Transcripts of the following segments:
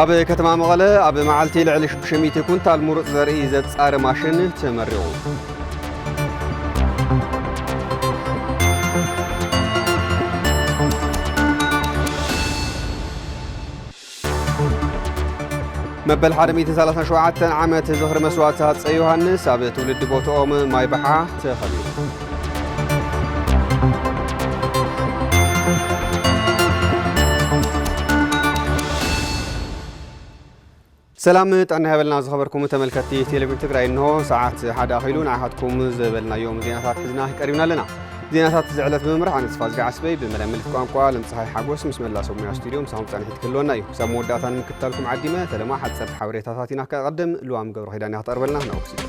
ኣብ ከተማ መቐለ ኣብ መዓልቲ ልዕሊ 600 ኩንታል ሙሩፅ ዘርኢ ዘፃሪ ማሽን ተመሪቑ። መበል 137 ዓመት ዝኽሪ መስዋእቲ ሃፀይ ዮሃንስ ኣብ ትውልዲ ቦትኦም ማይብሓ ተኸቢሩ ሰላም ጥዕና ይሃበልና ዝኸበርኩም ተመልከትቲ ቴሌቪዥን ትግራይ እንሆ ሰዓት ሓደ ኣኺሉ ንዓኻትኩም ዝበልናዮም ዜናታት ሒዝና ቀሪብና ኣለና ዜናታት እዚ ዕለት ብምምራሕ ኣነ ተስፋ ዝገዓ ስበይ ብመዳይ ምልክት ቋንቋ ለምፀሓይ ሓጎስ ምስ መላ ሰብ ሙያ ስቱድዮ ምሳኹም ፃኒሒት ክህልወና እዩ ክሳብ መወዳእታ ንምክትታልኩም ዓዲመ ፈለማ ሓፀርቲ ሓበሬታታት ኢና ከቐድም ልዋም ገብረ ኪዳን እያ ክተቕርበልና ናብኡ ክስደት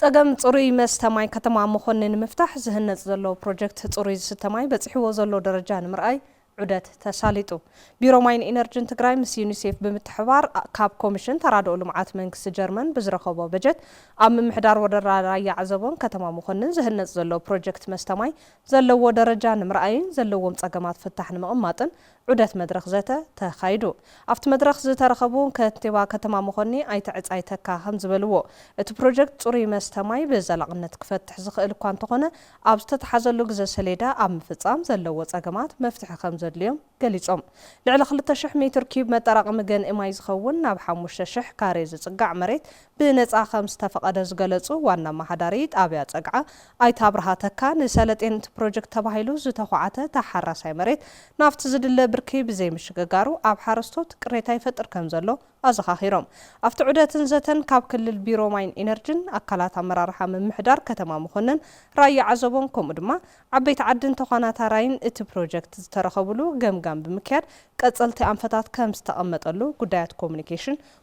ፀገም ፅሩይ መስተ ማይ ከተማ መኾኒ ንምፍታሕ ዝህነፅ ዘሎ ፕሮጀክት ፅሩይ ዝስተ ማይ በፂሕዎ ዘሎ ደረጃ ንምርኣይ ዑደት ተሳሊጡ። ቢሮ ማይን ኢነርጅን ትግራይ ምስ ዩኒሴፍ ብምትሕብባር ካብ ኮሚሽን ተራድኦ ልምዓት መንግስቲ ጀርመን ብዝረኸቦ በጀት ኣብ ምምሕዳር ወረዳ ራያ ዓዘቦን ከተማ መኾንን ዝህነፅ ዘሎ ፕሮጀክት መስተ ማይ ዘለዎ ደረጃ ንምርኣይን ዘለዎም ፀገማት ፍታሕ ንምቕማጥን ዑደት መድረኽ ዘተ ተኻይዱ። ኣብቲ መድረኽ ዝተረኸቡ ከንቲባ ከተማ መኾኒ ኣይተ ዕፃይ ተካ ከምዝበልዎ፣ እቲ ፕሮጀክት ፅሩይ መስተ ማይ ብዘላቕነት ክፈትሕ ዝኽእል እኳ እንተኾነ ኣብ ዝተትሓዘሉ ግዘ ሰሌዳ ኣብ ምፍፃም ዘለዎ ፀገማት መፍትሒ ከምዘድልዮም ገሊፆም። ልዕሊ ክልተ ሽሕ ሜትር ኪዩብ መጠራቐሚ ገንኢ ማይ ዝኸውን ናብ ሓሙሽተ ሽሕ ካሬ ዝፅጋዕ መሬት ብነጻ ከም ዝተፈቐደ ዝገለጹ ዋና ኣመሓዳሪ ጣብያ ጸግዓ ኣይተ ኣብርሃ ተካ፣ ንሰለጤንት ፕሮጀክት ተባሂሉ ዝተዃዓተ ተሓራሳይ መሬት ናብቲ ዝድለ ብርኪ ብዘይምሽግጋሩ ኣብ ሓረስቶት ቅሬታ ይፈጥር ከም ዘሎ ኣዘኻኺሮም። ኣብቲ ዑደትን ዘተን ካብ ክልል ቢሮ ማይን ኢነርጅን፣ ኣካላት ኣመራርሓ ምምሕዳር ከተማ መኾነን፣ ራያ ዓዘቦን ከምኡ ድማ ዓበይቲ ዓድን ተዃናታራይን እቲ ፕሮጀክት ዝተረኸብሉ ገምጋም ብምክያድ ቀፀልቲ ኣንፈታት ከም ዝተቐመጠሉ ጉዳያት ኮሙኒኬሽን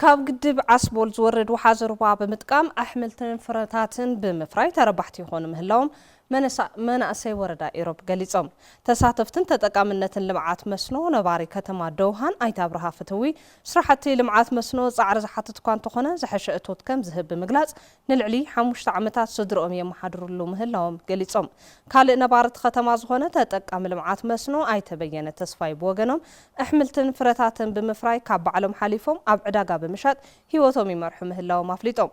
ካብ ግድብ ዓስቦል ዝወርድ ወሓዚ ሩባ ብምጥቃም ኣሕምልትን ፍረታትን ብምፍራይ ተረባሕቲ ይኾኑ ምህላዎም መናእሰይ ወረዳ ኢሮብ ገሊፆም። ተሳተፍትን ተጠቃምነትን ልምዓት መስኖ ነባሪ ከተማ ደውሃን ኣይተ ኣብርሃ ፍትዊ፣ ስራሕቲ ልምዓት መስኖ ፃዕሪ ዝሓትት እኳ እንተኾነ ዝሐሸ እቶት ከምዝህብ ብምግላፅ ንልዕሊ ሓሙሽተ ዓመታት ስድርኦም የመሓድርሉ ምህላዎም ገሊፆም። ካልእ ነባሪ እቲ ከተማ ዝኾነ ተጠቃሚ ልምዓት መስኖ ኣይተ በየነ ተስፋይ ብወገኖም፣ ኣሕምልትን ፍረታትን ብምፍራይ ካብ ባዕሎም ሓሊፎም ኣብ ዕዳጋ ብምሻጥ ህይወቶም ይመርሑ ምህላዎም ኣፍሊጦም።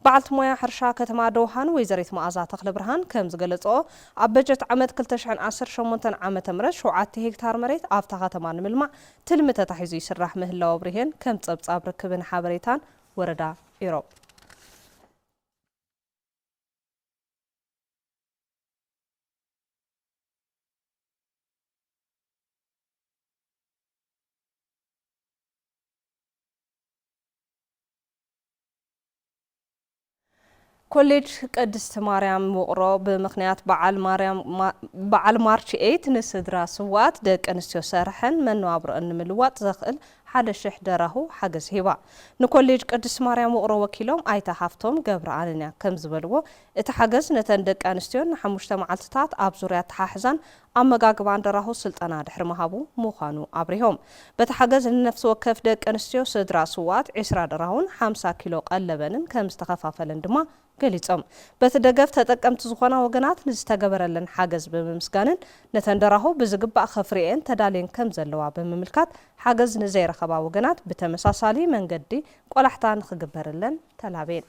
በዓልቲ ሞያ ሕርሻ ከተማ ደውሃን ወይዘሪት መኣዛ ተኽለብርሃን ከምዝገለፅኦ፣ ኣብ በጀት ዓመት ክልተ ሽሕን ዓሰርተ ሸሞንተን ዓመተ ምህረት ሸውዓተ ሄክታር መሬት ኣብታ ከተማ ንምልማዕ ትልሚ ተታሒዙ ይስራሕ ምህላዉ ኣብሪሀን ከም ፀብፃብ ርክብን ሓበሬታን ወረዳ ኢሮብ። ኮሌጅ ቅድስት ማርያም ውቕሮ ብምኽንያት በዓል ማርች ኤይት ንስድራ ስውኣት ደቂ ኣንስትዮ ሰርሐን መነባብሮኣን ንምልዋጥ ዘኽእል ሓደ ሽሕ ደራሁ ሓገዝ ሂባ። ንኮሌጅ ቅድስት ማርያም ውቕሮ ወኪሎም ኣይተ ሃፍቶም ገብረኣንንያ ከምዝበልዎ፣ እቲ ሓገዝ ነተን ደቂ ኣንስትዮን ንሓሙሽተ መዓልትታት ኣብ ዙርያ ኣተሓሕዛን ኣመጋግባን ደራሁ ስልጠና ድሕሪ ምሃቡ ምዃኑ ኣብሪሆም። በቲ ሓገዝ ንነፍሲ ወከፍ ደቂ ኣንስትዮ ስድራ ስውኣት ዒስራ ደራሁን ሓምሳ ኪሎ ቀለበንን ከምዝተኸፋፈለን ድማ ገሊፆም። በቲ ደገፍ ተጠቀምቲ ዝኾና ወገናት ንዝተገበረለን ሓገዝ ብምምስጋንን ነተን ደራሁ ብዝግባእ ከፍርየኤን ተዳልየን ከምዘለዋ ብምምልካት ሓገዝ ንዘይረኸባ ወገናት ብተመሳሳሊ መንገዲ ቆላሕታ ንክግበረለን ተላብየን።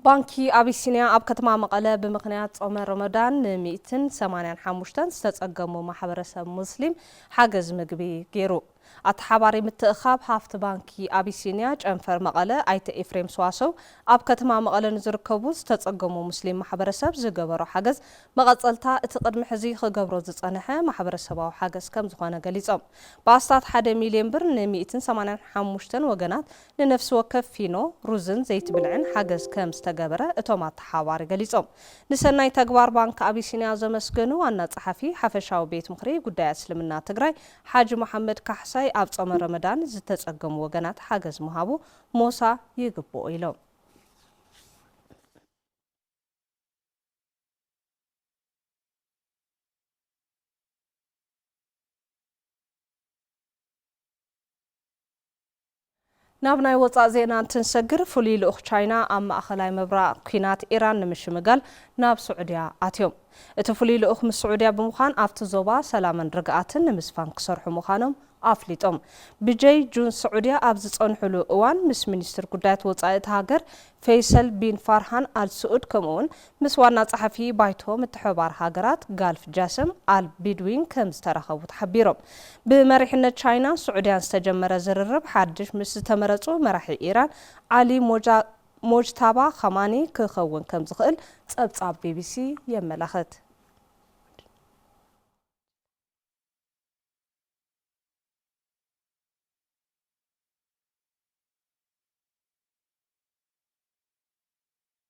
ባንኪ ኣቢሲንያ ኣብ ከተማ መቐለ ብምኽንያት ጾመ ሮሞዳን ንሚእትን ሰማንያን ሓሙሽተን ዝተጸገሙ ማሕበረሰብ ሙስሊም ሓገዝ ምግቢ ገይሩ። ኣተሓባሪ ምትእኻብ ሃፍቲ ባንኪ ኣቢሲንያ ጨንፈር መቐለ ኣይተ ኤፍሬም ሰዋሰው ኣብ ከተማ መቐለ ንዝርከቡ ዝተጸገሙ ሙስሊም ማሕበረሰብ ዝገበሮ ሓገዝ መቐጸልታ እቲ ቅድሚ ሕዚ ክገብሮ ዝጸንሐ ማሕበረሰባዊ ሓገዝ ከም ዝኾነ ገሊጾም። ብኣስታት ሓደ ሚልዮን ብር ን ሚእትን ሰማንያን ሓሙሽተን ወገናት ንነፍሲ ወከፍ ፊኖ ሩዝን ዘይቲ ብልዕን ሓገዝ ከም ዝተገበረ እቶም ኣተሓባባሪ ገሊፆም። ንሰናይ ተግባር ባንኪ ኣቢሲንያ ዘመስገኑ ዋና ፀሓፊ ሓፈሻዊ ቤት ምኽሪ ጉዳያት እስልምና ትግራይ ሓጂ መሓመድ ካሕሳይ ኣብ ፆመ ረመዳን ዝተፀገሙ ወገናት ሓገዝ ምሃቡ ሞሳ ይግብኦ ኢሎም። ናብ ናይ ወፃእ ዜና እንትንሰግር ፍሉይ ልኡኽ ቻይና ኣብ ማእኸላይ ምብራቕ ኲናት ኢራን ንምሽምጋል ናብ ስዑድያ ኣትዮም። እቲ ፍሉይ ልኡኽ ምስ ስዑድያ ብምዃን ኣብቲ ዞባ ሰላምን ርግኣትን ንምስፋን ክሰርሑ ምዃኖም ኣፍሊጦም። ብጀይ ጁን ስዑድያ ኣብ ዝፀንሑሉ እዋን ምስ ሚኒስትር ጉዳያት ወፃኢ እታ ሃገር ፌይሰል ቢን ፋርሃን ኣል ስኡድ ከምኡ እውን ምስ ዋና ጸሓፊ ባይቶ ምትሕብባር ሃገራት ጋልፍ ጃሰም ኣል ቢድዊን ከም ዝተራኸቡ ተሓቢሮም። ብመሪሕነት ቻይናን ስዑድያን ዝተጀመረ ዝርርብ ሓድሽ ምስ ዝተመረጹ መራሒ ኢራን ዓሊ ሞጅታባ ኻማኒ ክኸውን ከም ዝኽእል ጸብጻብ ቢቢሲ የመላኽት።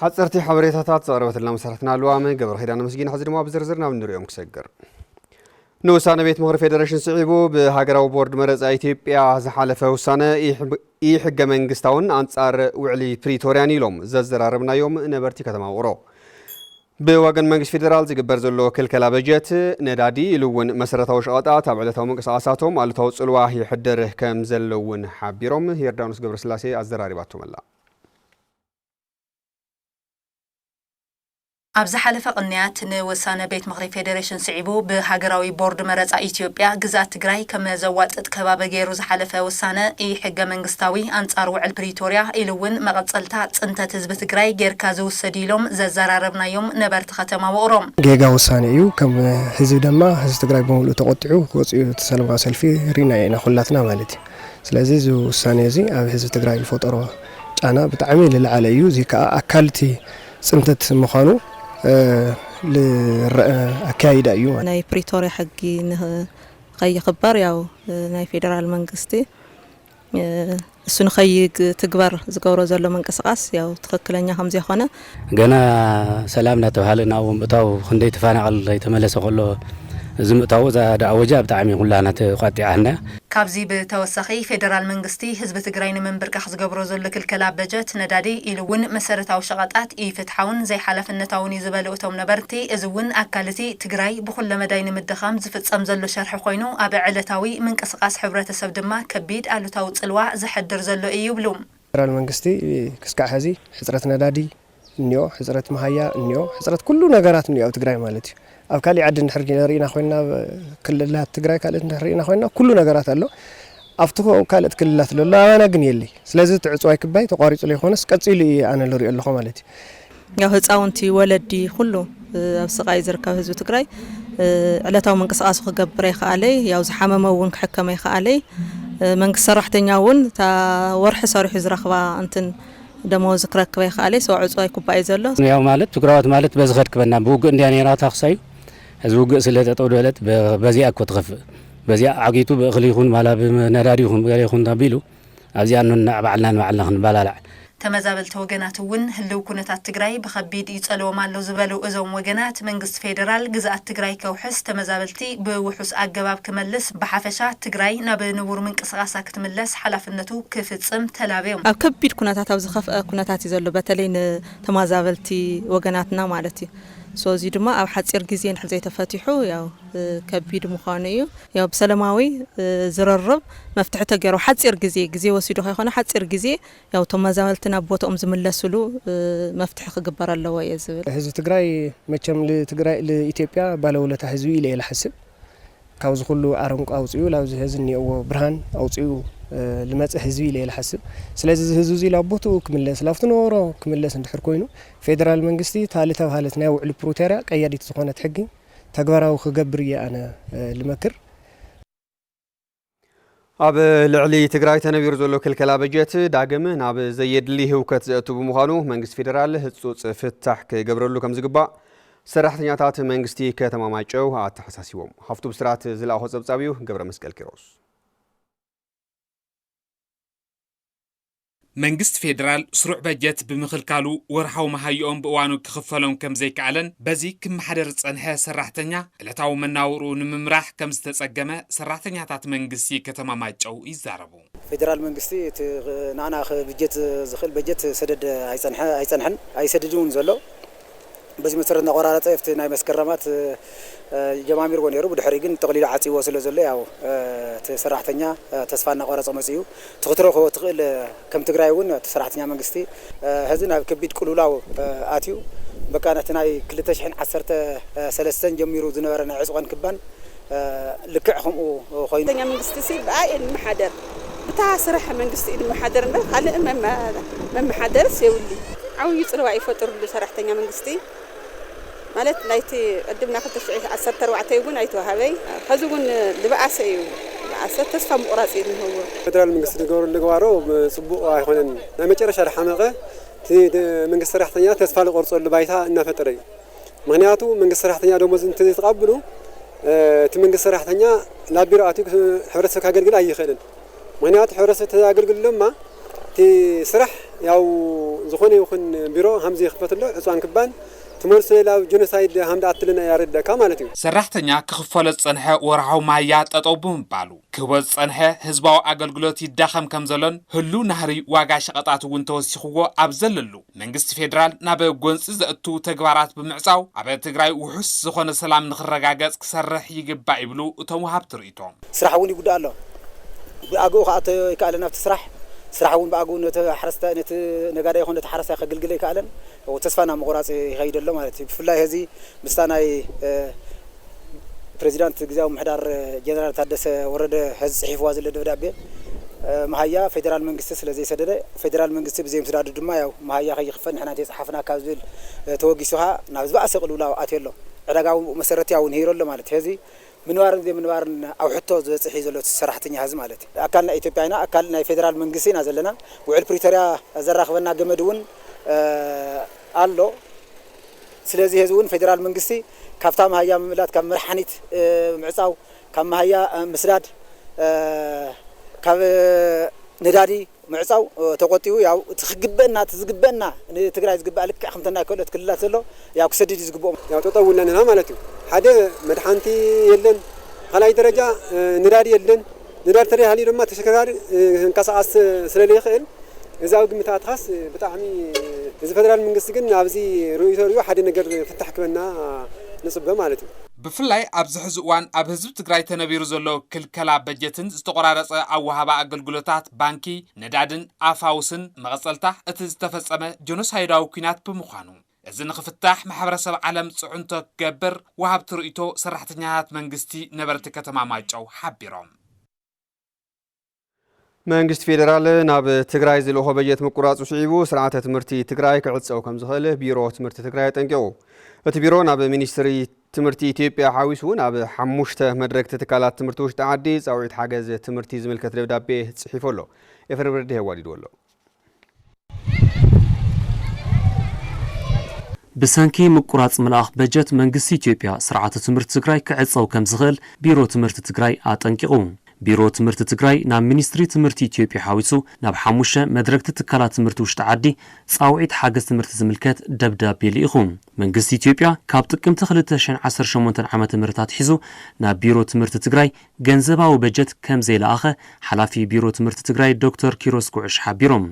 ሓጸርቲ ሓበሬታታት ዘቕረበትልና መሰረትና ልዋመ ገብረኺዳን ኣመስጊን ሕዚ ድማ ብዝርዝር ናብ እንሪኦም ክሰግር ንውሳነ ቤት ምኽሪ ፌዴሬሽን ስዒቡ ብሃገራዊ ቦርድ መረፃ ኢትዮጵያ ዝሓለፈ ውሳነ ኢሕገ መንግስታውን ኣንጻር ውዕሊ ፕሪቶርያን ኢሎም ዘዘራረብናዮም ነበርቲ ከተማ ውቕሮ ብወገን መንግስቲ ፌዴራል ዝግበር ዘሎ ክልከላ በጀት ነዳዲ ኢሉ እውን መሰረታዊ ሸቐጣት ኣብ ዕለታዊ ምንቅስቓሳቶም ኣሉታዊ ፅልዋ ይሕድር ከም ዘለውን ሓቢሮም ዮርዳኖስ ገብረስላሴ ኣዘራሪባቶመላ ኣብ ዝሓለፈ ቅንያት ንውሳነ ቤት ምኽሪ ፌዴሬሽን ስዒቡ ብሃገራዊ ቦርድ መረፃ ኢትዮጵያ ግዝኣት ትግራይ ከም ዘዋፅጥ ከባቢ ገይሩ ዝሓለፈ ውሳነ ኢ-ሕገ መንግስታዊ፣ ኣንፃር ውዕል ፕሪቶርያ ኢሉ እውን መቐፀልታ ፅንተት ህዝቢ ትግራይ ገይርካ ዝውሰድ እዩ ኢሎም ዘዘራረብናዮም ነበርቲ ከተማ ውቕሮ። ጌጋ ውሳነ እዩ ከም ህዝቢ ደማ ህዝቢ ትግራይ ብምሉኡ ተቖጢዑ ክወፅ እዩ እቲ ሰለማዊ ሰልፊ ሪእናዮ ኢና ኩላትና ማለት እዩ። ስለዚ እዚ ውሳኔ እዚ ኣብ ህዝቢ ትግራይ ዝፈጠሮ ጫና ብጣዕሚ ልልዓለ እዩ እዙይ ከዓ ኣካል እቲ ፅንተት ምዃኑ ልረኣ ኣከያይዳ እዩ። ናይ ፕሪቶርያ ሕጊ ንኸይኽበር ያው ናይ ፌደራል መንግስቲ እሱ ንኸይትግበር ዝገብሮ ዘሎ ምንቅስቓስ ያው ትኽክለኛ ከምዘይኾነ ገና ሰላም እናተብሃለ ናብኡ ምእታው ክንደይ ተፋናቐል ኣይተመለሰ ከሎ እዚ ምእታዉ እዛ ዳኣወጃ ብጣዕሚ ኩላህና ተቛጢዓትና። ካብዚ ብተወሳኺ ፌደራል መንግስቲ ህዝቢ ትግራይ ንምንብርካኽ ዝገብሮ ዘሎ ክልከላ በጀት፣ ነዳዲ ኢሉ እውን መሰረታዊ ሸቐጣት ኢፍትሓውን ዘይሓላፍነታውን እዩ ዝበሉ እቶም ነበርቲ እዚ እውን ኣካል እቲ ትግራይ ብኹለ መዳይ ንምድኻም ዝፍፀም ዘሎ ሸርሒ ኮይኑ ኣብ ዕለታዊ ምንቅስቓስ ሕብረተሰብ ድማ ከቢድ ኣሉታዊ ፅልዋ ዘሕድር ዘሎ እዩ ይብሉ። ፌደራል መንግስቲ ክስካዕ ሐዚ ሕፅረት ነዳዲ እኒኦ ሕፅረት መሃያ እኒኦ ሕፅረት ኩሉ ነገራት እኒኦ ኣብ ትግራይ ማለት እዩ ኣብ ካሊእ ዓዲ እንድሕር ርኢና ኮይና ክልላት ትግራይ ካልእት እንድሕር ርኢና ኮይና ኩሉ ነገራት ኣሎ ኣብቲ ካልእት ክልላት ለሎ ኣባና ግን የለይ ስለዚ እቲ ዕፅዋይ ክባይ ተቋሪፁ ለይኮነስ ቀፂሉ እዩ ኣነ ልሪኦ ኣለኹ ማለት እዩ ያው ህፃውንቲ፣ ወለዲ፣ ኹሉ ኣብ ስቓይ ዝርከብ ህዝቢ ትግራይ ዕለታዊ ምንቅስቓሱ ክገብር ኣይኸኣለይ። ያው ዝሓመመ እውን ክሕከም ኣይኸኣለይ። መንግስቲ ሰራሕተኛ እውን እታ ወርሒ ሰሪሑ ዝረኽባ እንትን ደመወዝ ክረክብ ኣይኸኣለይ። ሰው ዕፁ ኣይኩባእይ ዘሎ። ያው ማለት ትግራዋት ማለት በዚ ከድክበና ብውግእ እንዲያ ነይራ ታክሳዩ ህዝቢ ውግእ ስለ ጠጠው ደለት በዚኣ እኮ ትኸፍእ በዚኣ ዓጊቱ ብእኽሊ ይኹን ማላ ብነዳዲ ይኹን ገለ ይኹን ኣቢሉ ኣብዚኣ ንንዕ ባዕልና ንባዕልና ክንበላላዕ። ተመዛበልቲ ወገናት እውን ህልው ኩነታት ትግራይ ብኸቢድ ይፀልዎም ኣሎ ዝበሉ እዞም ወገናት፣ መንግስቲ ፌደራል ግዝኣት ትግራይ ከውሕስ፣ ተመዛበልቲ ብውሑስ ኣገባብ ክመልስ፣ ብሓፈሻ ትግራይ ናብ ንቡር ምንቅስቓሳ ክትምለስ ሓላፍነቱ ክፍፅም ተላብዮም። ኣብ ከቢድ ኩነታት ኣብ ዝኸፍኣ ኩነታት እዩ ዘሎ በተለይ ንተማዛበልቲ ወገናትና ማለት እዩ ሶ እዙይ ድማ ኣብ ሓፂር ግዜ እንድሕር ዘይተፈቲሑ ያው። ከቢድ ምዃኑ እዩ ያው ብሰለማዊ ዝርርብ መፍትሒ ተገይሩ ሓፂር ግዜ ግዜ ወሲዱ ከይኮነ ሓፂር ግዜ ያው ተመዛበልቲ ናብ ቦትኦም ዝምለስሉ መፍትሒ ክግበር ኣለዎ እየ ዝብል። ህዝቢ ትግራይ መቸም ልትግራይ ልኢትዮጵያ ባለውለታ ህዝቢ ኢለ እየ ልሓስብ ካብዚ ኩሉ ኣረንቋ ኣውፂኡ ላብዚ ሀዚ እኒኦዎ ብርሃን ኣውፂኡ ልመፅእ ህዝቢ ኢለ እየ ልሓስብ ስለዚ እዚ ህዝቢ እዚ ላብ ቦትኡ ክምለስ ላብቲ ነበሮ ክምለስ እንድሕር ኮይኑ ፌደራል መንግስቲ እታ ልተብሃለት ናይ ውዕሊ ፕሩተርያ ቀያዲት ዝኾነት ሕጊ ተግባራዊ ክገብር እየ ኣነ ልመክር። ኣብ ልዕሊ ትግራይ ተነቢሩ ዘሎ ክልከላ በጀት ዳግም ናብ ዘየድሊ ህውከት ዘእቱ ብምዃኑ መንግስቲ ፌዴራል ህፁፅ ፍታሕ ክገብረሉ ከም ዝግባእ ሰራሕተኛታት መንግስቲ ከተማ ማይጨው ኣተሓሳሲቦም። ሃፍቱ ብስራት ዝለኣኾ ፀብፃብ እዩ። ገብረ መስቀል ኪሮስ መንግስቲ ፌደራል ስሩዕ በጀት ብምኽልካሉ ወርሓዊ መሃይኦም ብእዋኑ ክኽፈሎም ከምዘይከኣለን በዚ ክመሓደር ዝፀንሐ ሰራሕተኛ ዕለታዊ መናውርኡ ንምምራሕ ከምዝተፀገመ ሰራሕተኛታት መንግስቲ ከተማ ማይጨው ይዛረቡ። ፌደራል መንግስቲ እቲ ንዓና ክብጀት ዝኽእል በጀት ሰደድ ኣይፀንሐ ኣይፀንሐን ኣይሰድድን እውን ዘሎ። በዚ መሰረት እናቆራረፀ ኣብቲ ናይ መስከረማት ጀማሚርዎ ነይሩ ብድሕሪኡ ግን ጠቕሊሉ ዓፂዎ ስለ ዘሎ ያው እቲ ሰራሕተኛ ተስፋ እናቆረፀ መፂኡ እቲ ክትረኽቦ ትኽእል ከም ትግራይ እውን እቲ ሰራሕተኛ መንግስቲ ሀዚ ናብ ከቢድ ቅልውላው ኣትዩ በቃ ነቲ ናይ ክልተ ሽሕን ዓሰርተ ሰለስተን ጀሚሩ ዝነበረ ናይ ዕፅዋን ክባን ልክዕ ከምኡ ኮይኑ። ተኛ መንግስቲ ሲ ብኣይ እንመሓደር ብታ ስራሕ መንግስቲ እዩ ንመሓደር እምበር ካልእ መመሓደርስ የብሉይ። ዓብዩ ጽልዋ እዩ ፈጥርሉ ሰራሕተኛ መንግስቲ ማለት ናይቲ ቅድም ናይ ክልተ ሽሕ ዓሰርተ ኣርባዕተ እዩውን ኣይተዋሃበይ ኸዚ እውን ልበኣሰ እዩ ልበኣሰ ተስፋ ምቑራጽ እዩ እንህዎ። ፈደራል መንግስቲ ዝገብሮ ልግባሮ ጽቡቕ ኣይኾነን ናይ መጨረሻ ልሓመቐ እቲ መንግስቲ ሰራሕተኛ ተስፋ ልቆርጸሉ ባይታ እናፈጠረ እዩ። ምክንያቱ መንግስቲ ሰራሕተኛ ደሞዝ እንተዘይተቓብሉ እቲ መንግስቲ ሰራሕተኛ ናብ ቢሮ ኣትዩ ሕብረተሰብ ካገልግል ኣይኽእልን ምክንያቱ ሕብረተሰብ ተዘኣገልግል ድማ እቲ ስራሕ ያው ዝኾነ ይኹን ቢሮ ሃምዚ ይኽፈትሎ ዕፅዋን ክባን ትመልሶ ሌላ ጆኖሳይድ ሃምዳ ኣትልና ያረድኣካ ማለት እዩ። ሰራሕተኛ ክኽፈሎ ዝፀንሐ ወርሓዊ መሃያ ጠጠው ብምባሉ ክህቦ ዝፀንሐ ህዝባዊ ኣገልግሎት ይዳኸም ከምዘሎን ህሉው ናህሪ ዋጋ ሸቐጣት እውን ተወሲኽዎ ኣብ ዘለሉ መንግስቲ ፌዴራል ናብ ጎንፂ ዘእቱ ተግባራት ብምዕፃው ኣብ ትግራይ ውሑስ ዝኾነ ሰላም ንኽረጋገፅ ክሰርሕ ይግባእ ይብሉ እቶም ወሃብቲ ርኢቶ። ስራሕ እውን ይጉዳእ ኣሎ። ብኣግኡ ክኣቶ ኣይከኣለን ኣብቲ ስራሕ። ስራሕ እውን ብኣግኡ ነቲ ሓረስታይ ነቲ ነጋዳይ ይኹን ነቲ ሓረስታይ ከግልግል ኣይከኣለን። ተስፋ ናብ ምቑራፅ ይኸይድ ኣሎ ማለት እዩ። ብፍላይ ሀዚ ምስታ ናይ ፕረዚዳንት ግዝያዊ ምምሕዳር ጀነራል ታደሰ ወረደ ሐዚ ፅሒፍዋ ዘሎ ደብዳቤ መሃያ ፌደራል መንግስቲ ስለ ዘይሰደደ ፌደራል መንግስቲ ብዘይምስዳዱ ድማ ያው መሃያ ከይኽፈል ንሕና እንተይፀሓፍናካ ዝብል ተወጊሱ ኸዓ ናብ ዝባኣሰ ቅልውላው ኣትዮ ኣሎ። ዕዳጋዊ መሰረት ያው ንሂሩ ኣሎ ማለት ሐዚ ምንባርን ዘይምንባርን ኣብ ሕቶ ዝበፅሕ እዩ ዘሎ እቲ ሰራሕተኛ ሐዚ ማለት። ኣካል ናይ ኢትዮጵያ ኢና ኣካል ናይ ፌደራል መንግስቲ ኢና ዘለና ውዕል ፕሪቶርያ ዘራኽበና ገመድ እውን ኣሎ። ስለዚ ሔዚ እውን ፌዴራል መንግስቲ ካብታ መሃያ ምምላጥ ካብ መርሓኒት ምዕፃው ካብ መሃያ ምስዳድ ካብ ነዳዲ ምዕፃው ተቆጢቡ ያው እቲ ክግበእና እቲ ዝግበእና ንትግራይ ዝግበኣ ልክዕ ከምቲ ናይ ከልኦት ክልላት ዘሎ ያው ክሰድድ እዩ ዝግበኦ። ያው ጠጠው ኢልና ኣለና ማለት እዩ ሓደ መድሓንቲ የለን ብካልኣይ ደረጃ ነዳዲ የለን። ነዳዲ ተደይሃልዩ ድማ ተሸከርካሪ ክንቀሳቀስ ስለለይክእል እዚ ኣብ ግምት ኣእትኻስ ብጣዕሚ እዚ ፈደራል ምንግስቲ ግን ኣብዚ ርእይቶ ሪኡ ሓደ ነገር ፍታሕ ክበና ንፅበ ማለት እዩ። ብፍላይ ኣብዚ ሕዚ እዋን ኣብ ህዝቢ ትግራይ ተነቢሩ ዘሎ ክልከላ በጀትን ዝተቆራረፀ ኣወሃህባ ኣገልግሎታት ባንኪ፣ ነዳድን ኣፋውስን መቐፀልታ እቲ ዝተፈፀመ ጆኖሳይዳዊ ኲናት ብምዃኑ፣ እዚ ንኽፍታሕ ማሕበረሰብ ዓለም ፅዕንቶ ክገብር ወሃብቲ ርእይቶ ሰራሕተኛታት መንግስቲ ነበርቲ ከተማ ማይጨው ሓቢሮም። መንግስቲ ፌዴራል ናብ ትግራይ ዝልእኾ በጀት ምቁራፁ ስዒቡ ስርዓተ ትምህርቲ ትግራይ ክዕፀው ከም ዝኽእል ቢሮ ትምህርቲ ትግራይ ኣጠንቂቑ። እቲ ቢሮ ናብ ሚኒስትሪ ትምህርቲ ኢትዮጵያ ሓዊሱ እውን ኣብ ሓሙሽተ መድረግቲ ትካላት ትምህርቲ ውሽጢ ዓዲ ፃውዒት ሓገዝ ትምህርቲ ዝምልከት ደብዳቤ ፅሒፉ ኣሎ። ኤፍሬም ረድሄ ኣዋዲድዎ ኣሎ። ብሰንኪ ምቁራፅ ምልኣኽ በጀት መንግስቲ ኢትዮጵያ ስርዓተ ትምህርቲ ትግራይ ክዕፀው ከምዝኽእል ቢሮ ትምህርቲ ትግራይ ኣጠንቂቑ። ቢሮ ትምህርቲ ትግራይ ናብ ሚኒስትሪ ትምህርቲ ኢትዮጵያ ሓዊሱ ናብ ሓሙሽተ መድረግቲ ትካላት ትምህርቲ ውሽጢ ዓዲ ፃውዒት ሓገዝ ትምህርቲ ዝምልከት ደብዳቤ ልኢኹ። መንግስቲ ኢትዮጵያ ካብ ጥቅምቲ ክልተ ሽሕን ዓሰርተ ሸሞንተን ዓመተ ምህረት ኣትሒዙ ናብ ቢሮ ትምህርቲ ትግራይ ገንዘባዊ በጀት ከም ዘይለኣኸ ሓላፊ ቢሮ ትምህርቲ ትግራይ ዶክተር ኪሮስ ጉዕሽ ሓቢሮም።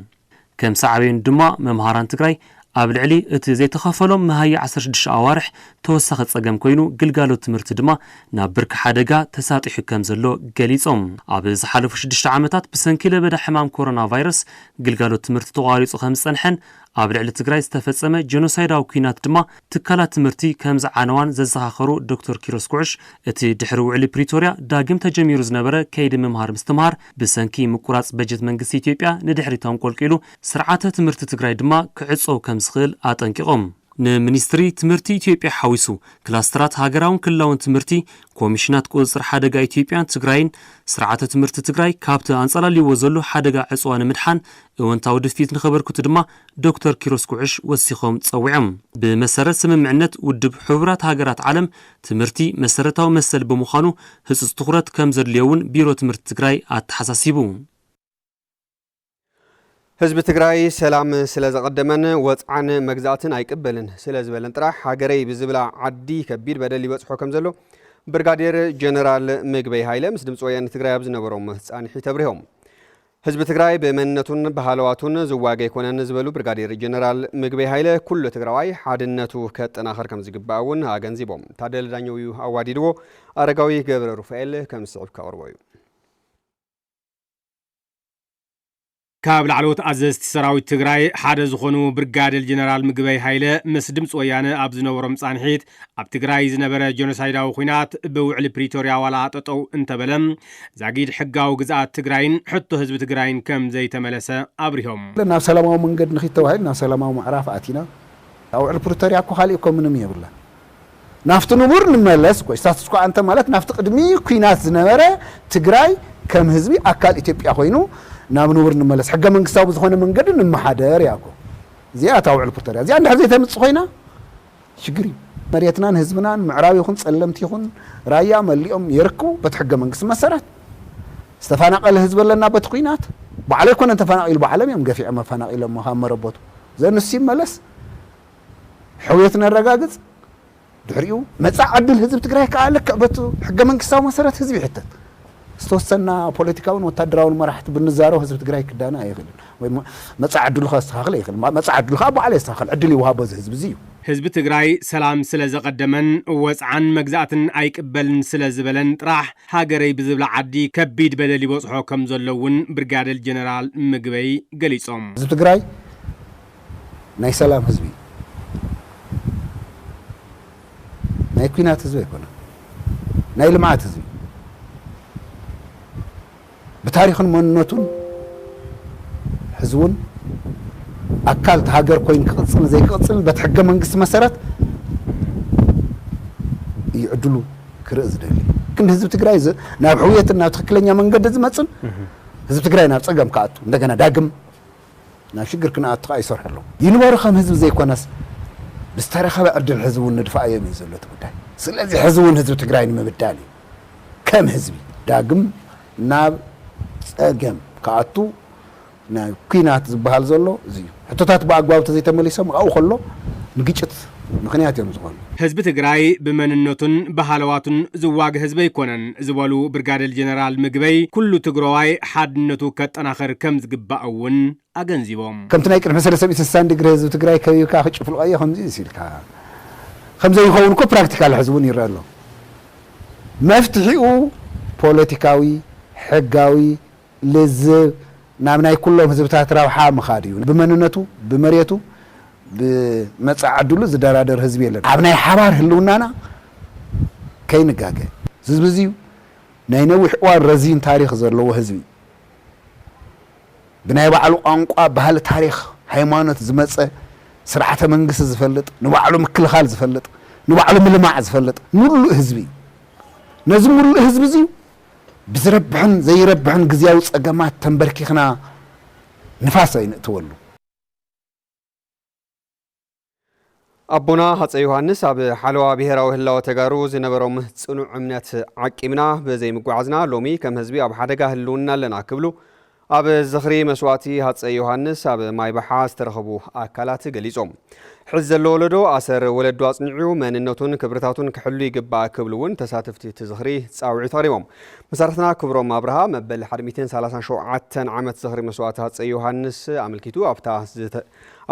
ከም ሳዕቤኑ ድማ መምሃራን ትግራይ ኣብ ልዕሊ እቲ ዘይተኸፈሎም መሃያ ዓሰርተ ሽዱሽተ ኣዋርሕ ተወሳኺ ፀገም ኮይኑ ግልጋሎት ትምህርቲ ድማ ናብ ብርኪ ሓደጋ ተሳጢሑ ከም ዘሎ ገሊፆም። ኣብ ዝሓለፉ ሽዱሽተ ዓመታት ብሰንኪ ለበዳ ሕማም ኮሮና ቫይረስ ግልጋሎት ትምህርቲ ተቋሪፁ ከም ዝፀንሐን ኣብ ልዕሊ ትግራይ ዝተፈፀመ ጀኖሳይዳዊ ኲናት ድማ ትካላት ትምህርቲ ከምዝዓነዋን ዘዘኻኸሩ ዶክተር ኪሮስ ጉዕሽ፣ እቲ ድሕሪ ውዕሊ ፕሪቶርያ ዳግም ተጀሚሩ ዝነበረ ከይዲ ምምሃር ምስትምሃር ብሰንኪ ምቁራፅ በጀት መንግስቲ ኢትዮጵያ ንድሕሪት ኣንቆልቂሉ፣ ስርዓተ ትምህርቲ ትግራይ ድማ ክዕፀው ከምዝኽእል ኣጠንቂቖም። ንሚኒስትሪ ትምህርቲ ኢትዮጵያ ሓዊሱ ክላስተራት ሃገራውን ክልላውን ትምህርቲ፣ ኮሚሽናት ቁፅፅር ሓደጋ ኢትዮጵያን ትግራይን ስርዓተ ትምህርቲ ትግራይ ካብቲ ኣንፀላልይዎ ዘሎ ሓደጋ ዕፅዋ ንምድሓን እወንታዊ ድፍኢት ንኸበርክቱ ድማ ዶክተር ኪሮስ ጉዕሽ ወሲኾም ጸዊዖም። ብመሰረት ስምምዕነት ውድብ ሕቡራት ሃገራት ዓለም ትምህርቲ መሰረታዊ መሰል ብምዃኑ ህጹጽ ትኹረት ከም ዘድልዮ እውን ቢሮ ትምህርቲ ትግራይ ኣተሓሳሲቡ። ህዝቢ ትግራይ ሰላም ስለ ዘቐደመን ወጽዓን መግዛእትን ኣይቅበልን ስለ ዝበለን ጥራሕ ሃገረይ ብዝብላ ዓዲ ከቢድ በደል ይበጽሖ ከም ዘሎ ብርጋዴር ጀነራል ምግበይ ሃይለ ምስ ድምፂ ወያነ ትግራይ ኣብ ዝነበሮም ፃንሒት ኣብሪሆም። ህዝቢ ትግራይ ብመንነቱን ብሃለዋቱን ዝዋገ ኣይኮነን ዝበሉ ብርጋዴር ጀነራል ምግበይ ሃይለ፣ ኩሉ ትግራዋይ ሓድነቱ ከጠናኽር ከምዝግባእ እውን ኣገንዚቦም። ታደለ ዳኘው እዩ ኣዋዲድዎ፣ ኣረጋዊ ገብረ ሩፋኤል ከም ዝስዕብ ከቕርቦ እዩ። ካብ ላዕለዎት ኣዘዝቲ ሰራዊት ትግራይ ሓደ ዝኾኑ ብርጋዴር ጀነራል ምግበይ ሃይለ ምስ ድምፂ ወያነ ኣብ ዝነበሮም ፃንሒት፣ ኣብ ትግራይ ዝነበረ ጀኖሳይዳዊ ኹናት ብውዕሊ ፕሪቶርያ ዋላ ጠጠው እንተበለ ዛጊድ ሕጋዊ ግዝኣት ትግራይን ሕቶ ህዝቢ ትግራይን ከም ዘይተመለሰ ኣብሪሆም። ናብ ሰላማዊ መንገድ ንኺድ ተባሂሉ ናብ ሰላማዊ ምዕራፍ ኣቲና። ውዕሊ ፕሪቶርያ እኮ ካሊእ እኮ ምንም የብላን። ናፍቲ ንቡር ንመለስ እኮ እዩ። ስታትስኮ ኣንተ ማለት ናፍቲ ቅድሚ ኩናት ዝነበረ ትግራይ ከም ህዝቢ ኣካል ኢትዮጵያ ኮይኑ ናብ ንቡር ንመለስ ሕገ መንግስታዊ ብዝኾነ መንገዲ ንመሓደር እያ እኮ። እዚኣ እታ ውዕሊ ፕሪቶርያ እዚኣ እንድሕር ዘይተምፅእ ኮይና ሽግር እዩ መሬትናን ህዝብናን ምዕራብ ይኹን ፀለምቲ ይኹን ራያ መሊኦም የርክቡ በቲ ሕገ መንግስቲ መሰረት ዝተፋናቀለ ህዝቢ ኣለና በቲ ኩናት ባዕሉ ኣይኮነን ተፋናቂሉ ባዕሎም እዮም ገፊዖም ኣፋናቂሎሞ ካብ መረቦቱ ዘ ንሱ ይመለስ ሕውየት ነረጋግፅ ድሕሪኡ መፃእ ዕድል ህዝቢ ትግራይ ከዓ ልክዕ በቲ ሕገ መንግስታዊ መሰረት ህዝቢ ይሕተት ዝተወሰና ፖለቲካውን ወታደራውን መራሕቲ ብንዛሮ ህዝቢ ትግራይ ክዳነ ኣይኽእልን ወይ መፃኢ ዕድሉ ከስተኻኽል ኣይኽእልን። መፃኢ ዕድሉ ከዓ ባዕሉ የስተኻኽል። ዕድል ይወሃቦ እዚ ህዝቢ እዚ እዩ። ህዝቢ ትግራይ ሰላም ስለ ዘቐደመን ወፅዓን መግዛእትን ኣይቅበልን ስለ ዝበለን ጥራሕ ሃገረይ ብዝብላ ዓዲ ከቢድ በደል ይበፅሖ ከም ዘሎ እውን ብርጋደል ጀነራል ምግበይ ገሊፆም። ህዝቢ ትግራይ ናይ ሰላም ህዝቢ እዩ ናይ ኩናት ህዝቢ ኣይኮነን ናይ ልምዓት ህዝቢ ብታሪኽን መንነቱን ሕዚ እውን ኣካል እቲ ሃገር ኮይኑ ክቕፅልን ዘይክቕፅልን በቲ ሕገ መንግስቲ መሰረት እዩ ዕድሉ ክርኢ ዝደሊ ግን ህዝቢ ትግራይ ናብ ሕውየትን ናብ ትክክለኛ መንገዲ ዝመፅን ህዝቢ ትግራይ ናብ ፀገም ክኣቱ እንደገና ዳግም ናብ ሽግር ክነኣቱ ከኣ ይሰርሑ ኣለዉ። ይንበሩ ከም ህዝቢ ዘይኮነስ ብዝተረኸበ ዕድል ሕዚ እውን ንድፋኣዮም እዩ ዘሎ እቲ ጉዳይ። ስለዚ ሕዚ እውን ህዝቢ ትግራይ ንምብዳል እዩ ከም ህዝቢ ዳግም ናብ ፀገም ክኣቱ ናይ ኩናት ዝበሃል ዘሎ እዚ እዩ። ሕቶታት ብኣግባቡ ተዘይተመሊሶም ኣብኡ ከሎ ንግጭት ምኽንያት እዮም ዝኾኑ። ህዝቢ ትግራይ ብመንነቱን ብሃለዋቱን ዝዋገ ህዝቢ ኣይኮነን ዝበሉ ብርጋዴር ጀነራል ምግበይ፣ ኩሉ ትግረዋይ ሓድነቱ ከጠናኽር ከምዝግባእ እውን ኣገንዚቦም። ከምቲ ናይ ቅድሚ ሰለስተ ሚእቲ ስሳን ድግሪ ህዝቢ ትግራይ ከቢብካ ክጭፍልቖዮ ከምዚ'ስ ኢልካ ከምዘይኸውን እኮ ፕራክቲካሊ ሕዚ እውን ይረኣ ኣሎ። መፍትሒኡ ፖለቲካዊ፣ ሕጋዊ፣ ልዝብ ናብ ናይ ኩሎም ህዝብታት ረብሓ ምኻድ እዩ። ብመንነቱ፣ ብመሬቱ፣ ብመጻኢ ዕድሉ ዝደራደር ህዝቢ የለን። ኣብ ናይ ሓባር ህልውናና ከይንጋገ። ዝዝቢ እዚ ናይ ነዊሕ እዋን ረዚን ታሪኽ ዘለዎ ህዝቢ እዩ። ብናይ ባዕሉ ቋንቋ፣ ባህሊ፣ ታሪኽ፣ ሃይማኖት ዝመጸ ስርዓተ መንግስቲ ዝፈልጥ፣ ንባዕሉ ምክልኻል ዝፈልጥ፣ ንባዕሉ ምልማዕ ዝፈልጥ ምሉእ ህዝቢ እዩ። ነዚ ምሉእ ህዝቢ እዚ እዩ ብዝረብሕን ዘይረብሕን ግዝያዊ ጸገማት ተምበርኪኽና ንፋስ ኣይንእትወሉ። ኣቦና ሃፀይ ዮሃንስ ኣብ ሓለዋ ብሄራዊ ህላወ ተጋሩ ዝነበሮም ፅኑዕ እምነት ዓቂብና ብዘይምጓዓዝና ሎሚ ከም ህዝቢ ኣብ ሓደጋ ህልውና ኣለና ክብሉ ኣብ ዝኽሪ መስዋእቲ ሃፀይ ዮሃንስ ኣብ ማይበሓ ዝተረኸቡ ኣካላት ገሊፆም። ሕዚ ዘሎ ወለዶ ኣሰር ወለዱ ኣፅኒዑ መንነቱን ክብርታቱን ክሕሉ ይግባእ ክብሉ እውን ተሳትፍቲ እቲ ዝኽሪ ፃውዒት ኣቕሪቦም። መሳርሕትና ክብሮም ኣብርሃ መበል ሓደ ሚእትን ሰላሳን ሸውዓተን ዓመት ዝኽሪ መስዋእቲ ሃፀይ ዮሃንስ ኣመልኪቱ ኣብታ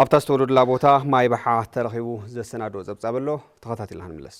ኣብታ ዝተወለዱላ ቦታ ማይበሓ ተረኺቡ ዘሰናድኦ ፀብፃብ ኣሎ። ተኸታቲልና ክንምለስ።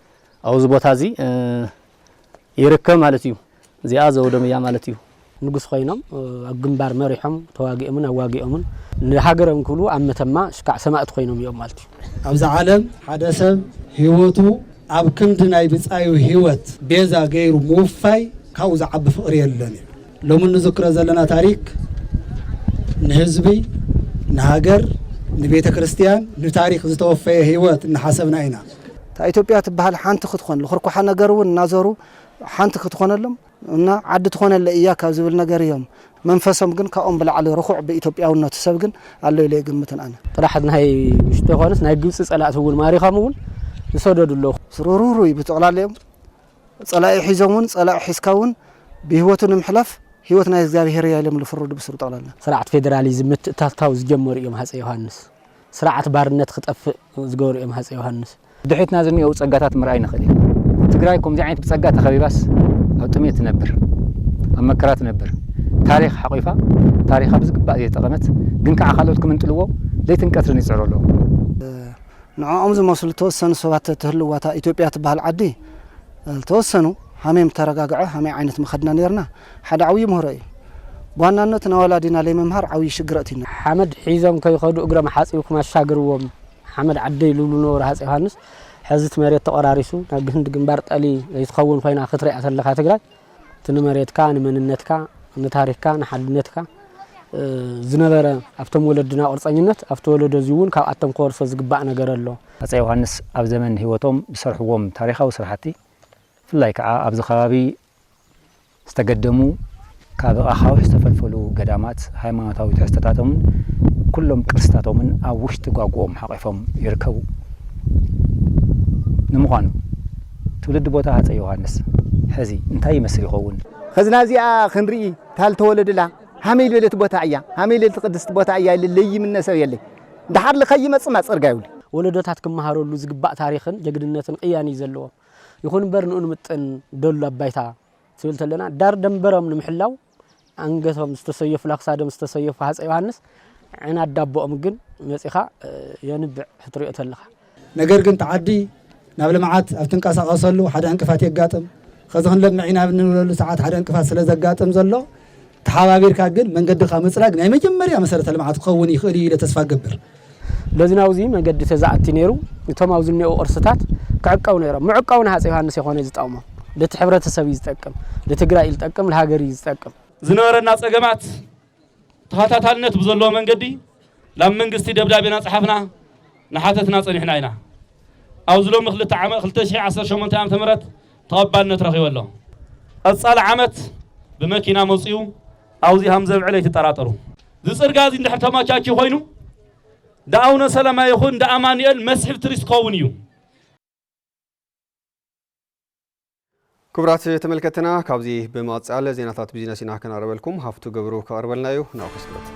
ኣብዚ ቦታ እዚ ይርከብ ማለት እዩ። እዚኣ ዘውዶም እያ ማለት እዩ። ንጉስ ኮይኖም ኣብ ግንባር መሪሖም ተዋጊኦምን ኣዋጊኦምን ንሃገሮም ክብሉ ኣብ መተማ ሽካዕ ሰማእት ኮይኖም እዮም ማለት እዩ። ኣብዚ ዓለም ሓደ ሰብ ህይወቱ ኣብ ክንዲ ናይ ብጻዩ ህይወት ቤዛ ገይሩ ምውፋይ ካብኡ ዝዓቢ ፍቕሪ የሎን እዩ። ሎሚ እንዝክሮ ዘለና ታሪክ ንህዝቢ፣ ንሃገር፣ ንቤተ ክርስትያን፣ ንታሪክ ዝተወፈየ ህይወት እናሓሰብና ኢና። እታ ኢትዮጵያ ትበሃል ሓንቲ ክትኾን ልኽርኳሓ ነገር እውን እናዞሩ ሓንቲ ክትኾነሎም እና ዓዲ ትኾነለይ እያ ካብ ዝብል ነገር እዮም መንፈሶም ግን ካብኦም ብላዕሊ ርኹዕ ብኢትዮጵያውነቱ ሰብ ግን ኣሎ ኢለ ኣይግምትን ኣነ። ጥራሕ ናይ ውሽጢ ዘይኮነስ ናይ ግብፂ ፀላእቲ እውን ማሪኾም እውን ይሰደዱ ኣለዉ። ስርርርርይ ብጥቕላሊኦም ጸላኢ ሒዞም ውን ጸላኢ ሒዝካ ውን ብህይወቱ ንምሕላፍ ህይወት ናይ እግዚኣብሔር እያ ኢሎም ልፍርዱ ብስሩ ጠቕላላ። ስርዓት ፌደራሊዝም ምትእትታው ዝጀመሩ እዮም ሃፀይ ዮሃንስ። ስርዓት ባርነት ክጠፍእ ዝገበሩ እዮም ሃፀይ ዮሃንስ። ብድሕሪትና ዝኒኦው ፀጋታት ምርኣይ ንኽእል ኢና። ትግራይ ኮምዚ ዓይነት ብፀጋ ተኸቢባስ ኣብ ጥምየት ትነብር፣ ኣብ መከራ ትነብር፣ ታሪኽ ሓቑፋ ታሪኻ ብዝግባእ ዘይተጠቐመት ግን ከዓ ካልኦት ክምንጥልዎ ለይትን ቀትርን ይፅዕሩ ኣለው። ንዕኦም ዝመስሉ ተወሰኑ ሰባት ትህልዋ እታ ኢትዮጵያ ትበሃል ዓዲ ዝተወሰኑ ሃሜም ተረጋግዐ ሃመይ ዓይነት መኸድና ኔርና ሓደ ዓብዩ ምህሮ እዩ ብዋናነት ናወላዲና ለይምምሃር ዓብዩ ሽግር ኣእቲዩና። ሓመድ ሒዞም ከይኸዱ እግረም ሓጺብኩም ኣሻግርዎም ሓመድ ዓደይ ልብሉ ነበሩ ሃጽይ ዮሃንስ። ሐዚ እቲ መሬት ተቆራሪሱ ናብ ግህንድ ግንባር ጠሊ ዘይትኸውን ኾይና ክትሪኣ ተለኻ ትግራይ። እቲ ንመሬትካ ንመንነትካ ንታሪኽካ ንሓድነትካ ዝነበረ ኣብቶም ወለድና ቁርፀኝነት ኣብቲ ወለዶ እዚ እውን ካብኣቶም ክወርሶ ዝግባእ ነገር ኣሎ። ሃፀይ ዮሃንስ ኣብ ዘመን ህይወቶም ዝሰርሕዎም ታሪኻዊ ስራሕቲ ብፍላይ ከዓ ኣብዚ ከባቢ ዝተገደሙ ካብ ኣኻውሕ ዝተፈልፈሉ ገዳማት ሃይማኖታዊ ትሕዝቶታቶምን ኩሎም ቅርስታቶምን ኣብ ውሽጢ ጓጉኦም ሓቚፎም ይርከቡ። ንምዃኑ። ትውልዲ ቦታ ሃጸይ ዮሃንስ ሕዚ እንታይ ይመስል ይኸውን? ኸዚ ናብዚኣ ኽንርኢ ታል ተወለድላ ሃመይ ልበለት ቦታ እያ ሃመይ ልበለት ቕድስት ቦታ እያ ኢለ ለይምነ ሰብ የለይ ድሓር ልኸይመጽም ኣጸርጋ ይብሉ። ወለዶታት ክመሃረሉ ዝግባእ ታሪኽን ጀግንነትን ቕያን እዩ ዘለዎም። ይኹን እምበር ንኡ ንምጥን ደሉ ኣብ ባይታ ትብል ተለና ዳር ደንበሮም ንምሕላው ኣንገቶም ዝተሰየፉላ ክሳዶም ዝተሰየፉ ሃፀይ ዮሃንስ ዕናድ ዳቦኦም ግን መፂኻ የንብዕ ክትሪኦ ተለኻ። ነገር ግን እቲ ዓዲ ናብ ልምዓት ኣብ ትንቀሳቐሰሉ ሓደ ዕንቅፋት የጋጥም። ኸዚ ክንለምዕ ኢና ኣብ እንብለሉ ሰዓት ሓደ ዕንቅፋት ስለ ዘጋጥም ዘሎ ተሓባቢርካ ግን መንገድኻ ምፅራግ ናይ መጀመርያ መሰረተ ልምዓት ክኸውን ይኽእል ኢዩ ኢለ ተስፋ እገብር። በዚ ናብዚ መገዲ ተዛእቲ ነይሩ እቶም ኣብዚ እኒኦ ቅርስታት ክዕቀቡ ነይሮም። ምዕቃቡ ንሃፀ ዮሃንስ የኮነይ ዝጠቅሞም ልቲ ሕብረተሰብ እዩ ዝጠቅም፣ ልትግራይ እዩ ልጠቅም፣ ልሃገር እዩ ዝጠቅም። ዝነበረና ፀገማት ተኸታታልነት ብዘለዎ መንገዲ ናብ መንግስቲ ደብዳቤ እናፀሓፍና እናሓተትና ፀኒሕና ኢና። ኣብዚ ሎሚ ክልተ ዓመት ክልተ ሺሕ ዓሰርተ ሸሞንተ ዓመተ ምህረት ተቐባልነት ረኺቡ ኣሎ። ቐፃሊ ዓመት ብመኪና መፂኡ ኣብዙይ ሃምዘብዕል ኣይትጠራጠሩ። እዚ ፅርግያ እዙይ እንድሕር ተመቻችዩ ኮይኑ እንዳ ኣውነ ሰለማ ይኹን እንዳ ኣማኑኤል መስሕብ ትሪስት ክኸውን እዩ። ክቡራት ተመልከትና ካብዚ ብምቕፃል ዜናታት ቢዝነስ ኢና ክነቕርበልኩም ሃፍቱ ገብሩ ከቕርበልና እዩ ናብኡ ክስክበት።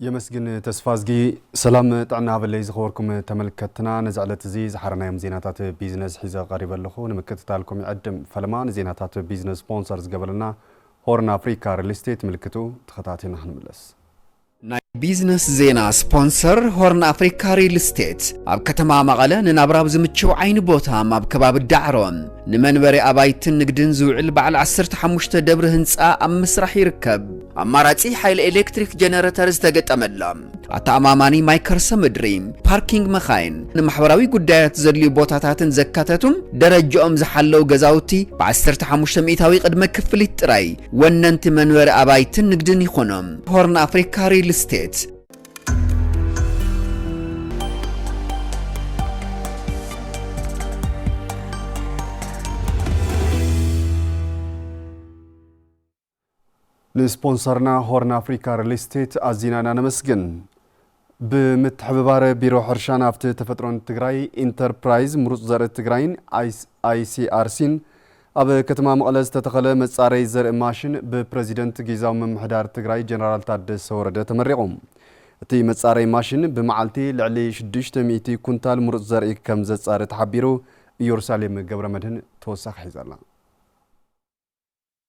የመስግን ተስፋዝጊ። ሰላም ጥዕና ሃበለይ ዝኸበርኩም ተመልከትትና፣ ነዚ ዕለት እዚ ዝሓረናዮም ዜናታት ቢዝነስ ሒዘ ቀሪበ ኣለኹ። ንምክትታልኩም ይዕድም። ፈለማ ንዜናታት ቢዝነስ ስፖንሰር ዝገበለና ሆርን ኣፍሪካ ሪል ስቴት ምልክቱ ተኸታቲልና ክንምለስ። ናይ ቢዝነስ ዜና ስፖንሰር ሆርን ኣፍሪካ ሪል ስቴት ኣብ ከተማ መቐለ ንናብራብ ዝምችው ዓይኒ ቦታ ኣብ ከባቢ ዳዕሮ ንመንበሪ ኣባይትን ንግድን ዝውዕል በዓል ዓሰርተ ሓሙሽተ ደብሪ ህንፃ ኣብ ምስራሕ ይርከብ። ኣማራጺ ሓይሊ ኤሌክትሪክ ጀነረተር ዝተገጠመላ፣ ኣተኣማማኒ ማይ ከርሰ ምድሪ፣ ፓርኪንግ መኻይን፣ ንማሕበራዊ ጉዳያት ዘድልዩ ቦታታትን ዘካተቱ ደረጃኦም ዝሓለው ገዛውቲ ብዓሰርተ ሓሙሽተ ሚእታዊ ቅድመ ክፍሊት ጥራይ ወነንቲ መንበሪ ኣባይትን ንግድን ይኾኑ። ሆርን ኣፍሪካ ሪል ስቴት። ንስፖንሰርና ሆርን ኣፍሪካ ሪል ስቴት ኣዚና ኢና ነመስግን። ብምትሕብባር ቢሮ ሕርሻን ሃፍቲ ተፈጥሮን ትግራይ፣ ኢንተርፕራይዝ ምሩፅ ዘርኢ ትግራይን ኣይሲኣርሲን ኣብ ከተማ መቐለ ዝተተኸለ መፃረይ ዘርኢ ማሽን ብፕረዚደንት ጊዛዊ ምምሕዳር ትግራይ ጀነራል ታደሰ ወረደ ተመሪቑ። እቲ መፃረይ ማሽን ብመዓልቲ ልዕሊ ሽዱሽተ ሚእቲ ኩንታል ምሩፅ ዘርኢ ከም ዘፃሪ ተሓቢሩ። ኢዮሩሳሌም ገብረመድህን ተወሳኺ ሒዛ'ላ።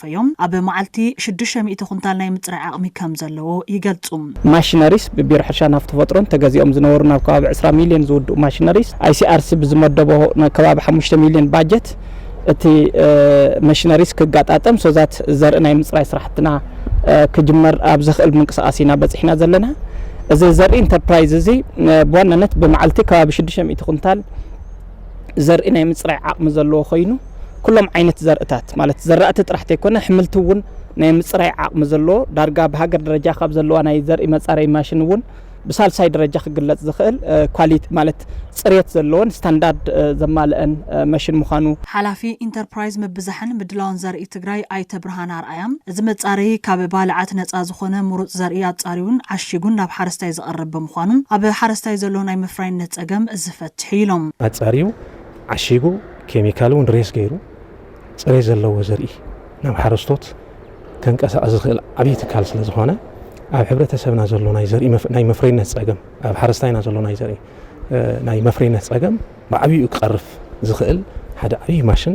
ፈዮም ኣብ መዓልቲ ሽዱሽተ ሚእቲ ኩንታል ናይ ምፅራይ ዓቕሚ ከም ዘለዎ ይገልፁ። ማሽነሪስ ብቢሮ ሕርሻን ሃፍቲ ተፈጥሮን ተገዚኦም ዝነበሩ ናብ ከባቢ ዕስራ ሚሊየን ዝውድኡ ማሽነሪስ ICRC ብዝመደቦ ናይ ከባቢ ሓሙሽተ ሚሊየን ባጀት እቲ መሽነሪስ ክጋጣጠም ሶዛት ዘርኢ ናይ ምፅራይ ስራሕትና ክጅመር ኣብ ዘኽእል ምንቅስቓስ ኢና በፂሕና ዘለና። እዚ ዘርኢ ኢንተርፕራይዝ እዚ ብዋናነት ብመዓልቲ ከባቢ ሽዱሽተ ሚእቲ ኩንታል ዘርኢ ናይ ምጽራይ ዓቕሚ ዘለዎ ኮይኑ ኩሎም ዓይነት ዘርእታት ማለት ዘራእቲ ጥራሕ ተይኮነ ሕምልቲ እውን ናይ ምጽራይ ዓቕሚ ዘለዎ ዳርጋ ብሃገር ደረጃ ካብ ዘለዋ ናይ ዘርኢ መጻረይ ማሽን እውን ብሳልሳይ ደረጃ ክግለጽ ዝኽእል ኳሊቲ ማለት ጽሬት ዘለዎን ስታንዳርድ ዘማልአን መሽን ምዃኑ ሓላፊ ኢንተርፕራይዝ ምብዛሕን ምድላውን ዘርኢ ትግራይ ኣይተ ብርሃነ ኣርኣያ፣ እዚ መጻረዪ ካብ ባልዓት ነፃ ዝኾነ ምሩፅ ዘርኢ ኣፃርዩን ዓሺጉን ናብ ሓረስታይ ዘቕርብ ብምዃኑ ኣብ ሓረስታይ ዘሎ ናይ መፍራይነት ፀገም ዝፈትሕ ትሕ ኢሎም። ኣፃርዩ ዓሺጉ ኬሚካል እውን ሬስ ገይሩ ፅሬት ዘለዎ ዘርኢ ናብ ሓረስቶት ከንቀሳቕስ ዝኽእል ዓብዪ ትካል ስለዝኾነ ኣብ ሕብረተሰብና ዘሎ ናይ ዘርኢ ናይ መፍረይነት ፀገም ኣብ ሓረስታይና ዘሎ ናይ ዘርኢ ናይ መፍረይነት ፀገም ብዓብይኡ ክቐርፍ ዝኽእል ሓደ ዓብዪ ማሽን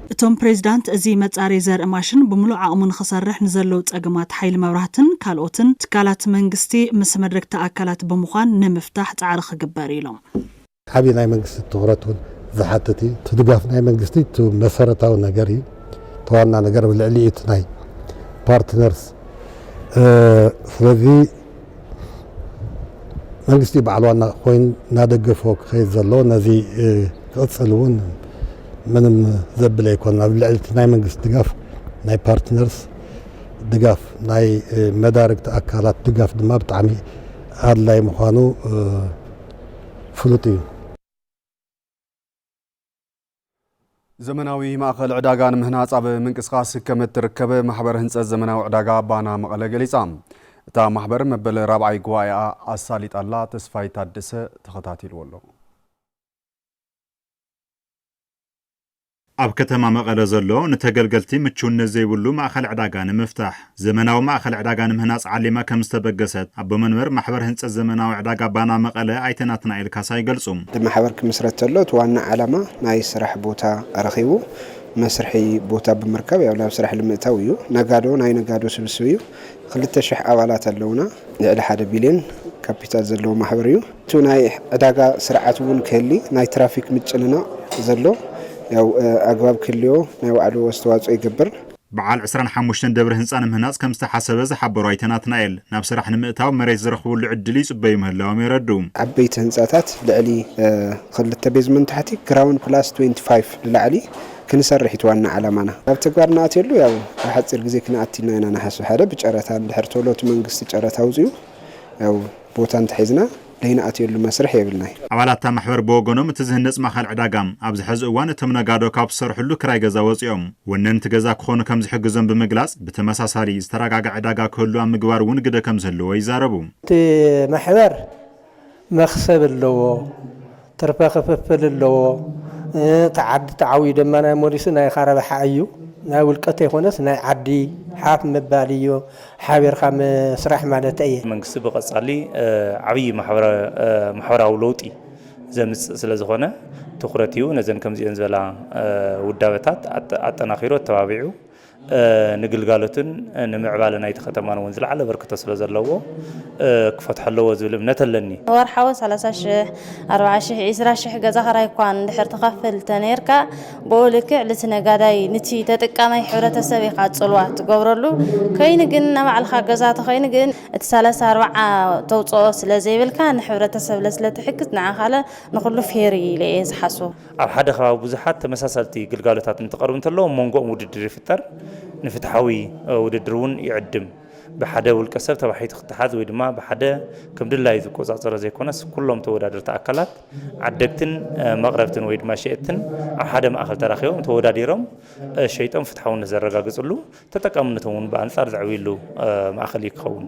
እቶም ፕሬዚዳንት እዚ መፃረዪ ዘርኢ ማሽን ብሙሉእ ዓቕሙ ንኽሰርሕ ንዘለዉ ፀገማት ሓይሊ መብራህትን ካልኦትን ትካላት መንግስቲ ምስ መድረግቲ ኣካላት ብምዃን ንምፍታሕ ፃዕሪ ክግበር እዩ ኢሎም። ዓብዪ ናይ መንግስቲ ትኹረት እውን ዝሓትት እዩ። እቲ ድጋፍ ናይ መንግስቲ እቲ መሰረታዊ ነገር እዩ። እቲ ዋና ነገር ኣብ ልዕሊ እቲ ናይ ፓርትነርስ ስለዚ መንግስቲ በዓል ዋና ኮይኑ እናደገፎ ክኸይድ ዘለዎ ነዚ ክቕፅል እውን ምንም ዘብል ኣይኮነን። ኣብ ልዕሊ እቲ ናይ መንግስቲ ድጋፍ ናይ ፓርትነርስ ድጋፍ ናይ መዳርግቲ ኣካላት ድጋፍ ድማ ብጣዕሚ ኣድላይ ምዃኑ ፍሉጥ እዩ። ዘመናዊ ማእኸል ዕዳጋ ንምህናፅ ኣብ ምንቅስቓስ ከም እትርከብ ማሕበር ህንፀት ዘመናዊ ዕዳጋ ባና መቐለ ገሊፃ። እታ ማሕበር መበል ራብዓይ ጉባኤኣ ኣሳሊጣላ። ተስፋይ ታደሰ ተኸታቲልዎ ኣሎ። ኣብ ከተማ መቐለ ዘሎ ንተገልገልቲ ምቹውነት ዘይብሉ ማእኸል ዕዳጋ ንምፍታሕ ዘመናዊ ማእኸል ዕዳጋ ንምህናፅ ዓሊማ ከምዝተበገሰት ኣቦ መንበር ማሕበር ህንፀት ዘመናዊ ዕዳጋ ባና መቐለ ኣይተ ናትናኤል ካሳ ይገልፁ። እቲ ማሕበር ክምስረት ተሎ እቲ ዋና ዓላማ ናይ ስራሕ ቦታ ረኺቡ መስርሒ ቦታ ብምርካብ ያው ናብ ስራሕ ልምእታው እዩ። ነጋዶ ናይ ነጋዶ ስብስብ እዩ። ክልተ ሽሕ ኣባላት ኣለውና። ልዕሊ ሓደ ቢልዮን ካፒታል ዘለዎ ማሕበር እዩ። እቲ ናይ ዕዳጋ ስርዓት እውን ክህሊ ናይ ትራፊክ ምጭንናቕ ዘሎ ያው ኣግባብ ክህልዎ ናይ ባዕሉ ኣስተዋፅኦ ይገብር። በዓል ዕስራን ሓሙሽተን ደብሪ ህንፃ ንምህናፅ ከምዝተሓሰበ ዝሓበሩ ኣይተ ናትናኤል፣ ናብ ስራሕ ንምእታው መሬት ዝረኽብሉ ዕድል ይፅበዩ ምህላዎም የረድኡ። ዓበይቲ ህንፃታት ልዕሊ ኽልተ ቤዝመንት ታሕቲ ግራውንድ ፕላስ ትዌንቲ ፋይቭ ንላዕሊ ክንሰርሕ እዩ እቲ ዋና ዓላማና። ናብ ተግባር ንኣትየሉ ያው ኣብ ሓፂር ግዜ ክንኣቲ ኢና ኢና ንሓስብ ሓደ ብጨረታ እንድሕር ቶሎ እቲ መንግስቲ ጨረታ ኣውፂኡ ያው ቦታ እንተሒዝና፣ ለይንኣትየሉ መስርሕ የብልናይ። ኣባላት እታ ማሕበር ብወገኖም እቲ ዝህነፅ ማእኸል ዕዳጋ ኣብዚ ሐዚ እዋን እቶም ነጋዶ ካብ ዝሰርሕሉ ክራይ ገዛ ወፂኦም ወነንቲ ገዛ ክኾኑ ከምዝሕግዞም ብምግላፅ ብተመሳሳሊ ዝተረጋግዐ ዕዳጋ ክህሉ ኣብ ምግባር እውን ግደ ከምዝህልዎ ይዛረቡ። እቲ ማሕበር መኽሰብ ኣለዎ። ትርፈ ክፍፍል ኣለዎ እቲ ዓዲ ተዓውዩ ድማ ናይ ሞሊሱ ናይ ካረብሓ እዩ ናይ ውልቀ ተይኮነስ ናይ ዓዲ ሓፍ ምባል እዩ ሓቢርካ ምስራሕ ማለት ኣየ። መንግስቲ ብቐፃሊ ዓብዪ ማሕበራዊ ለውጢ ዘምፅእ ስለዝኾነ ትኹረት ሂቡ ነዘን ከምዚኤን ዝበላ ውዳበታት ኣጠናኺሩ ኣተባቢዑ ንግልጋሎትን ንምዕባለ ናይቲ ከተማን እውን ዝለዓለ ኣበርክቶ ስለ ዘለዎ ክፈትሖ ኣለዎ ዝብል እምነት ኣለኒ። ወርሓዊ ሰላሳ ሽሕ፣ ኣርብዓ ሽሕ፣ ዒስራ ሽሕ ገዛ ክራይ እኳ እንድሕር ትኸፍል ተነይርካ ብኡ ልክዕ ልቲ ነጋዳይ ንቲ ተጠቃማይ ሕብረተሰብ ኢኻ ፅልዋ ትገብረሉ። ከይኑ ግን ናባዕልኻ ገዛ ተኸይኑ ግን እቲ ሰላሳ ኣርብዓ ተውፅኦ ስለ ዘይብልካ ንሕብረተሰብ ለስለ ትሕግዝ ንዓኻለ ንኹሉ ፌር እዩ ኢለ እየ ዝሓስቦ። ኣብ ሓደ ከባቢ ብዙሓት ተመሳሰልቲ ግልጋሎታት እንትቐርቡ እንተለዉ ኣብ መንጎኦም ውድድር ይፍጠር፣ ንፍትሓዊ ውድድር እውን ይዕድም። ብሓደ ውልቀ ሰብ ተባሒቱ ክተሓዝ ወይ ድማ ብሓደ ከም ድላዩ ዝቆፃፀሮ ዘይኮነስ ኩሎም ተወዳደርቲ ኣካላት ዓደግትን መቕረብትን ወይ ድማ ሸየጥትን ኣብ ሓደ ማእኸል ተራኺቦም ተወዳዲሮም ሸይጦም ፍትሓውነት ዘረጋግፅሉ ተጠቃምነቶም እውን ብኣንፃር ዘዕብይሉ ማእኸል እዩ ክኸውን።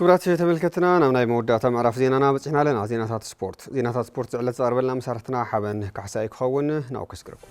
ክብራት ተመልከትና ናብ ናይ መወዳእታ ምዕራፍ ዜናና በፂሕና ኣለና ዜናታት ስፖርት ዜናታት ስፖርት ዝዕለት ዝቐርበልና መሳርሕትና ሓበን ካሕሳይ ክኸውን ናብኡ ከስግረኩም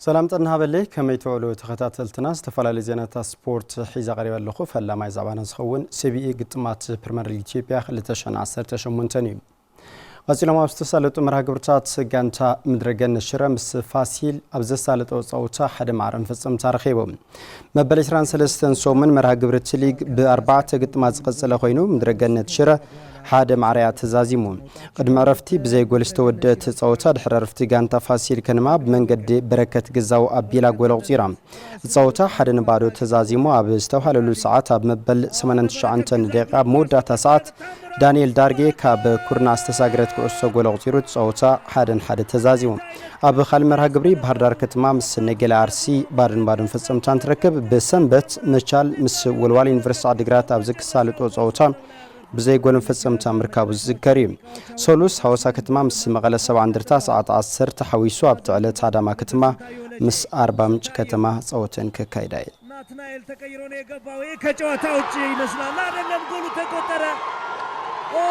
ሰላም ጥና ሃበለይ ከመይ ትውዕሉ ተኸታተልትና ዝተፈላለዩ ዜናታት ስፖርት ሒዛ ቀሪበ ኣለኹ ፈላማይ ዛዕባና ዝኸውን ስቢኢ ግጥማት ፕሪምየር ሊግ ኢትዮጵያ 218 እዩ ቐጺሎም ኣብ ዝተሳለጡ መርሃ ግብርታት ጋንታ ምድረገነት ሽረ ምስ ፋሲል ኣብ ዘሳለጠው ጸውታ ሓደ ማዕረ መፈጸምታ ረኺቡ። መበል 23 ሰሙን መርሃ ግብሪ እቲ ሊግ ብኣርባዕተ ግጥማት ዝቐጸለ ኮይኑ ምድረገነት ሽረ ሓደ ማዕረያ ተዛዚሙ ቅድሚ ዕረፍቲ ብዘይ ጎል ዝተወደት ጸወታ ድሕሪ ዕረፍቲ ጋንታ ፋሲል ከነማ ብመንገዲ በረከት ግዛው ኣቢላ ጎል ኣቑጺራ እቲ ጸወታ ሓደ ንባዶ ተዛዚሙ ኣብ ዝተብሃለሉ ሰዓት ኣብ መበል 89 ደቂቃ ኣብ መወዳእታ ሰዓት ዳንኤል ዳርጌ ካብ ኩርና ዝተሳግረት ኩዕሶ ጎል ኣቑጺሩ እቲ ጸወታ ሓደ ንሓደ ተዛዚሙ። ኣብ ካልእ መርሃ ግብሪ ባህርዳር ከተማ ምስ ነገሌ ኣርሲ ባዶ ንባዶን ፈጸምታ እንትረክብ ብሰንበት መቻል ምስ ወልዋሎ ዩኒቨርሲቲ ዓዲግራት ኣብ ዝክሳልጦ ጸወታ ብዘይ ጎል መፈጸምታ ምርካቡ ዝዝከር እዩ። ሰሉስ ሃዋሳ ከተማ ምስ መቐለ ሰብዓ እንደርታ ሰዓት ዓሰርተ ሓዊሱ ኣብቲ ዕለት ኣዳማ ከተማ ምስ ኣርባምንጭ ከተማ ጸወተን ከካይዳ እየን። ናትናኤል ተቀይሮ ነው የገባው ይሄ ከጨዋታ ውጭ ይመስላል አይደለም ጎሉ ተቆጠረ ኦ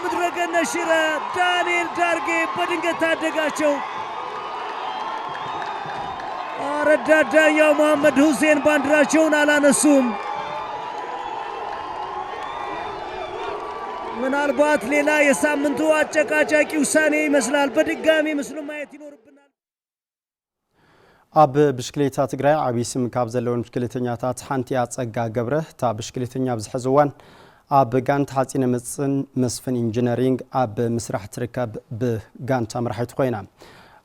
ምድረገነት ሽረ ዳንኤል ዳርጌ በድንገት ታደጋቸው ረዳት ዳኛው መሐመድ ሁሴን ባንዲራቸውን አላነሱም ምናልባት ሌላ የሳምንቱ አጨቃጫቂ ውሳኔ ይመስላል። በድጋሚ ምስሉ ማየት ይኖርብናል። ኣብ ብሽክሌታ ትግራይ ዓብዪ ስም ካብ ዘለወን ብሽክሌተኛታት ሓንቲ እያ ፀጋ ገብረ እታ ብሽክሌተኛ ኣብዚ ሕዚ እዋን ኣብ ጋንታ ሓፂነ መፅን መስፍን ኢንጂነሪንግ ኣብ ምስራሕ ትርከብ ብጋንታ መራሒት ኮይና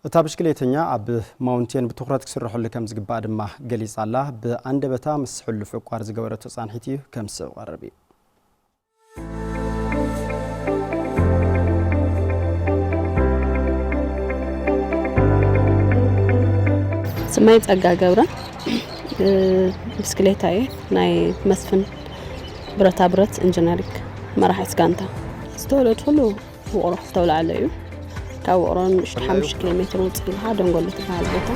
እታ ብሽክሌተኛ ኣብ ማውንቴን ብትኹረት ክስርሐሉ ከም ዝግባእ ድማ ገሊጻ ኣላ። ብኣንደበታ ምስ ሕሉፍ ዕቋር ዝገበረቶ ጻንሒት እዩ ከም ዝስዕብ ክቐርብ እዩ። ስመይ ጸጋ ገብረ ብስክሌታ እየ ናይ መስፍን ብረታ ብረት ኢንጂነሪንግ መራሒት ጋንታ ዝተወለድኩሉ ውቕሮ ክፍተውላለ እዩ ካብ ውቕሮ ንእሽቶ ሓሙሽተ ኪሎ ሜትር ውፅእ ኢልካ ደንጎሎ ትበሃል ቦታ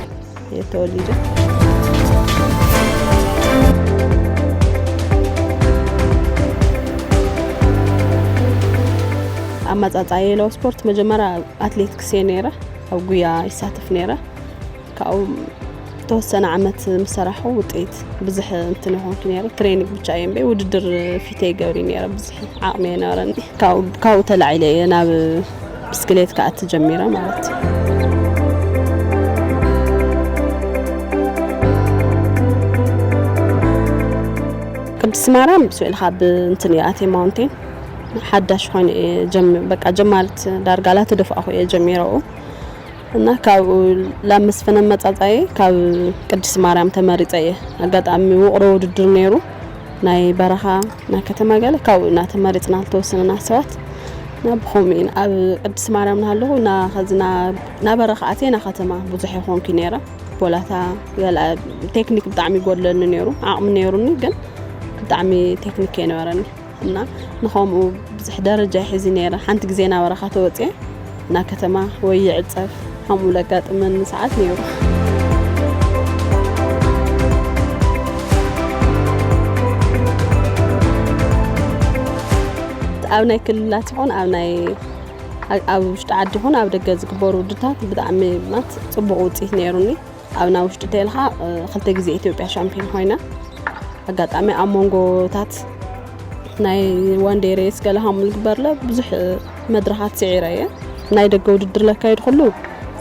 እየ ተወሊደ ኣመፃፅኣ የለው ስፖርት መጀመሪያ ኣትሌቲክስ እየ ነይረ ኣብ ጉያ ይሳተፍ ነይረ ካብኡ ተወሰነ ዓመት ምስ ሰራሑ ውጤት ብዝሕ እንትን ይኾንኩ ነረ ትሬኒንግ ብቻ እየ እምበይ ውድድር ፊተ ይገብሪ ነረ ብዙሕ ዓቕሚ የነበረኒ ካብኡ ተላዒለ እየ ናብ ብስክሌት ከዓ ትጀሚረ ማለት እዩ ቅድስቲ ማርያም ስዕል ካብ እንትን እየ ኣቴ ማውንቴን ሓዳሽ ኮይኑ እየ በቃ ጀማሪት ዳርጋላ ተደፋእኹ እየ ጀሚረኡ እና ካብኡ ላብ መስፍነ መጻጻየ ካብ ቅድስት ማርያም ተመሪጸ እየ ኣጋጣሚ ውቕሮ ውድድር ነይሩ ናይ በረኻ ናይ ከተማ ገለ ካብኡ ኢና ተመሪጽና ዝተወሰነና ሰባት ናብ ብኸምኡ ኢና ኣብ ቅድስት ማርያም ናሃለኹ እና ኸዚ ናበረኻ ኣትየ ና ከተማ ብዙሕ ይኾንኩ ነይረ ቦላታ ገለ ቴክኒክ ብጣዕሚ ይጎድለኒ ነይሩ ዓቕሚ ነይሩኒ ግን ብጣዕሚ ቴክኒክ ኣይነበረኒ እና ንኸምኡ ብዝሕ ደረጃ ይሕዚ ነይረ ሓንቲ ግዜ ናብ በረኻ ተወፅኤ እና ከተማ ወይ ይዕፀፍ ከምኡ ለጋጥመኒ ሰዓት ነይሩ ኣብ ናይ ክልላት ይኹን ኣብ ናይ ኣብ ውሽጢ ዓዲ ይኹን ኣብ ደገ ዝግበሩ ውድታት ብጣዕሚ ማለት ፅቡቅ ውፅኢት ነይሩኒ ኣብና ውሽጢ ተልካ ክልተ ግዜ ኢትዮጵያ ሻምፒዮን ኮይና ኣጋጣሚ ኣብ መንጎታት ናይ ዋንዴ ሬስ ገለ ሃሙ ዝግበርለ ብዙሕ መድረኻት ስዒረ እየ ናይ ደገ ውድድር ለካየድ ኩሉ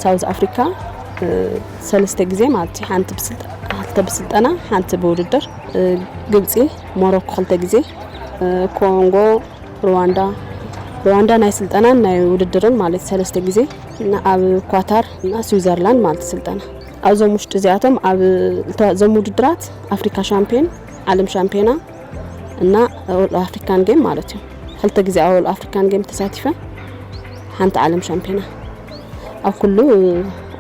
ሳውዝ ኣፍሪካ ሰለስተ ግዜ ማለት እዩ ሓንቲ ክልተ ብስልጠና ሓንቲ ብውድድር ግብፂ ሞሮኮ ክልተ ግዜ ኮንጎ ሩዋንዳ ሩዋንዳ ናይ ስልጠናን ናይ ውድድርን ማለት ሰለስተ ግዜ ኣብ ኳታር እና ስዊዘርላንድ ማለት ስልጠና ኣብዞም ውሽጢ እዚኣቶም ኣብ ዞም ውድድራት ኣፍሪካ ሻምፒዮን ዓለም ሻምፒዮና እና ወል ኣፍሪካን ጌም ማለት እዩ ክልተ ግዜ ኣብ ወል ኣፍሪካን ጌም ተሳቲፈ ሓንቲ ዓለም ሻምፒዮና ኣብ ኩሉ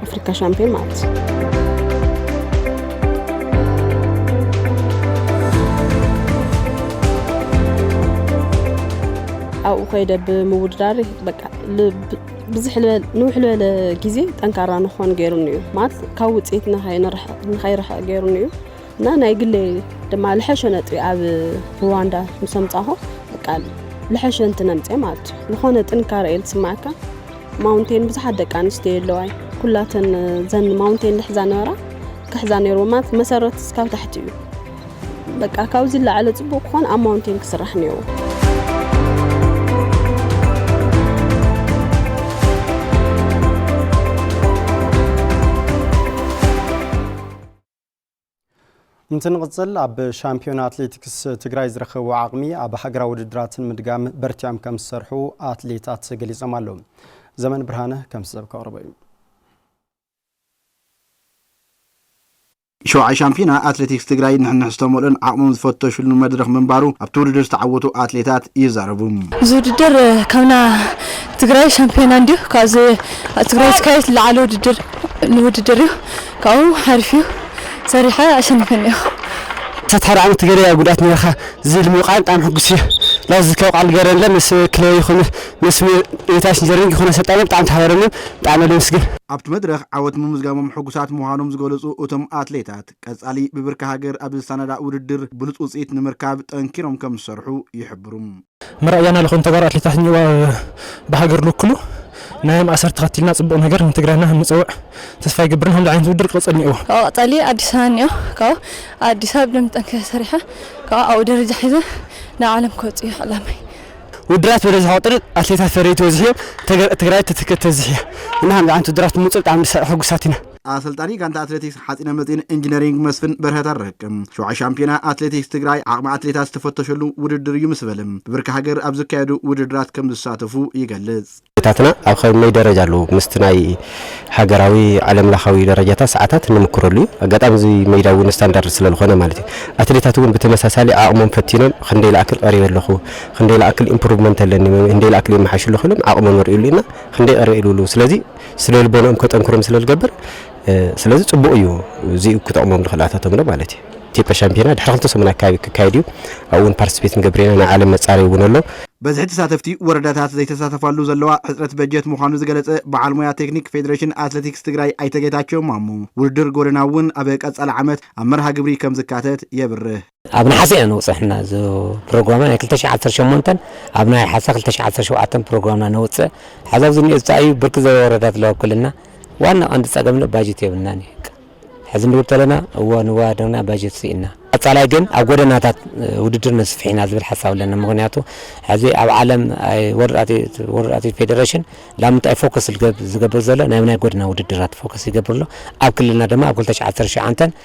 ኣፍሪካ ሻምፒዮን ማለት እዩ ኣብኡ ኮይደ ብምውድዳር በቃ ብዝሕ ልበል ንውሕ ልበለ ግዜ ጠንካራ ንኾን ገይሩኒ እዩ ማለት ካብ ውፅኢት ንኸይርሕቕ ገይሩኒ እዩ እና ናይ ግለይ ድማ ልሐሸ ነጥቢ ኣብ ሩዋንዳ ምስ ኣምፃኹ በቃ ልሐሸ እንትነምፀ ማለት እዩ ዝኾነ ጥንካረ እየ ዝስማዓካ ማውንቴን ብዙሓት ደቂ ኣንስትዮ የለዋይ ኩላተን ዘን ማውንቴን ልሕዛ ነበራ ክሕዛ ነይሩ ማለት መሰረት እስካብ ታሕቲ እዩ በቃ ካብዚ ዝለዓለ ጽቡቕ ክኾን ኣብ ማውንቴን ክስራሕ ነይሩ። እንትንቕፅል ኣብ ሻምፒዮን ኣትሌቲክስ ትግራይ ዝረኸቡ ዓቕሚ ኣብ ሃገራዊ ውድድራትን ምድጋም በርቲዖም ከም ዝሰርሑ ኣትሌታት ገሊፆም ኣለዉ ዘመን ብርሃነ ከምዚ ሰብ ከቕርቦ እዩ ሸውዓይ ሻምፒዮና ኣትሌቲክስ ትግራይ ንሕንሕ ዝተመልኦን ዓቕሞም ዝፈተሹሉን መድረኽ ምንባሩ ኣብቲ ውድድር ዝተዓወቱ ኣትሌታት ይዛረቡ። እዚ ውድድር ካብ ናይ ትግራይ ሻምፒዮና እንድዩ ካብዚ ኣብ ትግራይ ዝካየድ ዝለዓለ ውድድር ንውድድር እዩ ካብኡ ሓሪፍ እዩ ሰሪሐ ኣሸኒፈ እኒኤኹ። ክሳብ ሓደ ዓመት ገደያ ጉድኣት ኔርካ ዝብል ምውቃዕን ብጣዕሚ ሕጉስ እየ። ላዚ ዝከብ ቃል ገረንለ ምስ ክለበይ ይኹን መስፍን የኔታሽ ንዘሪሁን ጊኮን ኣሰልጣይና ብጣዕሚ ተሓባብረናን ብጣዕሚ ነመስግን። ኣብቲ መድረኽ ዓወት ምምዝጋቦም ሕጉሳት ምዃኖም ዝገለፁ እቶም ኣትሌታት፣ ቀፃሊ ብብርኪ ሃገር ኣብ ዝሰናዳእ ውድድር ብሉፅ ውፅኢት ንምርካብ ጠንኪሮም ከምዝሰርሑ ይሕብሩ። መረኣያና ልኾኑ ተጋሩ ኣትሌታት ንእዋ ብሃገር ልውክሉ ናዮም ኣሰር ተኸቲልና ፅቡቕ ነገር ንትግራይና ከምንፀውዕ ተስፋ ይገብር ንሃምዚ ዓይነት ውድድር ክቕፅል እኒኦዎ። ካብኡ ቀፃሊ ኣዲስ ኣበባ እኒኦ ካብኡ ኣብ ኣዲስ ኣበባ ብደንቢ ጠንኪረ ሰሪሐ ካብኡ ኣብኡ ደረጃ ሒዘ ናብ ዓለም ክወፅእ እዩ ዕላማይ። ውድራት በለዚ ክቅጥርን ኣትሌታት ፈረይቲ ወዝሕዮም ትግራይ ትትክእ ተዝሕያ እና ከምዚ ዓንት ውድራት ምውፅእ ብጣዕሚ ሕጉሳት ኢና። ኣሰልጣኒ ጋንታ ኣትሌቲክስ ሓፂነ መፂን ኢንጂነሪንግ መስፍን በርሀ ተረክ፣ ሸውዓይ ሻምፒዮና ኣትሌቲክስ ትግራይ ዓቕሚ ኣትሌታት ዝተፈተሸሉ ውድድር እዩ ምስ በለ፣ ብብርኪ ሃገር ኣብ ዝካየዱ ውድድራት ከምዝሳተፉ ይገልፅ። ታትና ኣብ ከመይ ደረጃ ኣለዉ ምስቲ ናይ ሃገራዊ ዓለም ለኻዊ ደረጃታት ሰዓታት ንምክረሉ እዩ ኣጋጣሚ እዚ ሜዳ እውን ስታንዳርድ ስለዝኾነ ማለት እዩ ኣትሌታት እውን ብተመሳሳሊ ዓቕሞም ፈቲኖም ክንደይ ላኣክል ቀሪበ ኣለኹ ክንደይ ላኣክል ኢምፕሩቭመንት ኣለኒ ክንደይ ላኣክል የመሓይሹ ኣለኹ ኢሎም ዓቕሞም የርእዩሉ ኢና ክንደይ ቀሪበ ኢሉሉ ስለዚ ስነ ልቦንኦም ከጠንክሮም ስለዝገብር ስለዚ ፅቡቕ እዩ እዚኡ ክጠቕሞም ንኽእል ኣታቶም ዶ ማለት እዩ። ኢትዮጵያ ሻምፒዮና ድሕሪ ክልተ ሰሙን ኣከባቢ ክካየድ እዩ። ኣብኡ እውን ፓርቲስፔት ክንገብር ኢና፣ ናይ ዓለም መፃረዪ እውን ኣሎ። በዝሒ ተሳተፍቲ ወረዳታት ዘይተሳተፋሉ ዘለዋ ሕፅረት በጀት ምዃኑ ዝገለፀ በዓል ሞያ ቴክኒክ ፌዴሬሽን ኣትሌቲክስ ትግራይ ኣይተ ጌታቸው ማሞ፣ ውድድር ጎደና እውን ኣብ ቀፃሊ ዓመት ኣብ መርሃ ግብሪ ከምዝካተት የብርህ። ኣብ ነሓሰ ኢና ነውጽሕ እና እዚ ፕሮግራምና ናይ ክልተ ሽሕ ዓሰርተ ሸሞንተን ኣብ ነሓሰ ክልተ ሽሕ ዓሰርተ ሸውዓተን ፕሮግራምና ነውጽእ ሐዚ ኣብዚ እንኦ ዝታ እዩ ብርክት ዝበለ ወረዳታት ኣለዋ ኣብ ክልልና ዋና ቀንዲ ጸገም ዶ ባጀት የብልናን እዩ በቃ ሕዚ ንብል ተለና እወ ንወዳደርና ባጀት ስኢና ቀጻላይ ግን ኣብ ጎደናታት እ፣ ውድድር ነስፍሕ ኢና ዝብል ሓሳብ ኣለና ምክንያቱ ሕዚ ኣብ ዓለም ኣይ፣ ወርልድ ኣትሌት- ወርልድ ኣትሌት ፌደሬሽን ላብ ምንታይ ፎከስ ዝገብ- ዝገብር ዘሎ ናብ ናይ ጎደና ውድድራት ፎከስ ይገብር ኣሎ ኣብ ክልልና ድማ ኣብ ክልተ ሽሕ ዓሰርተ ሸውዓንተን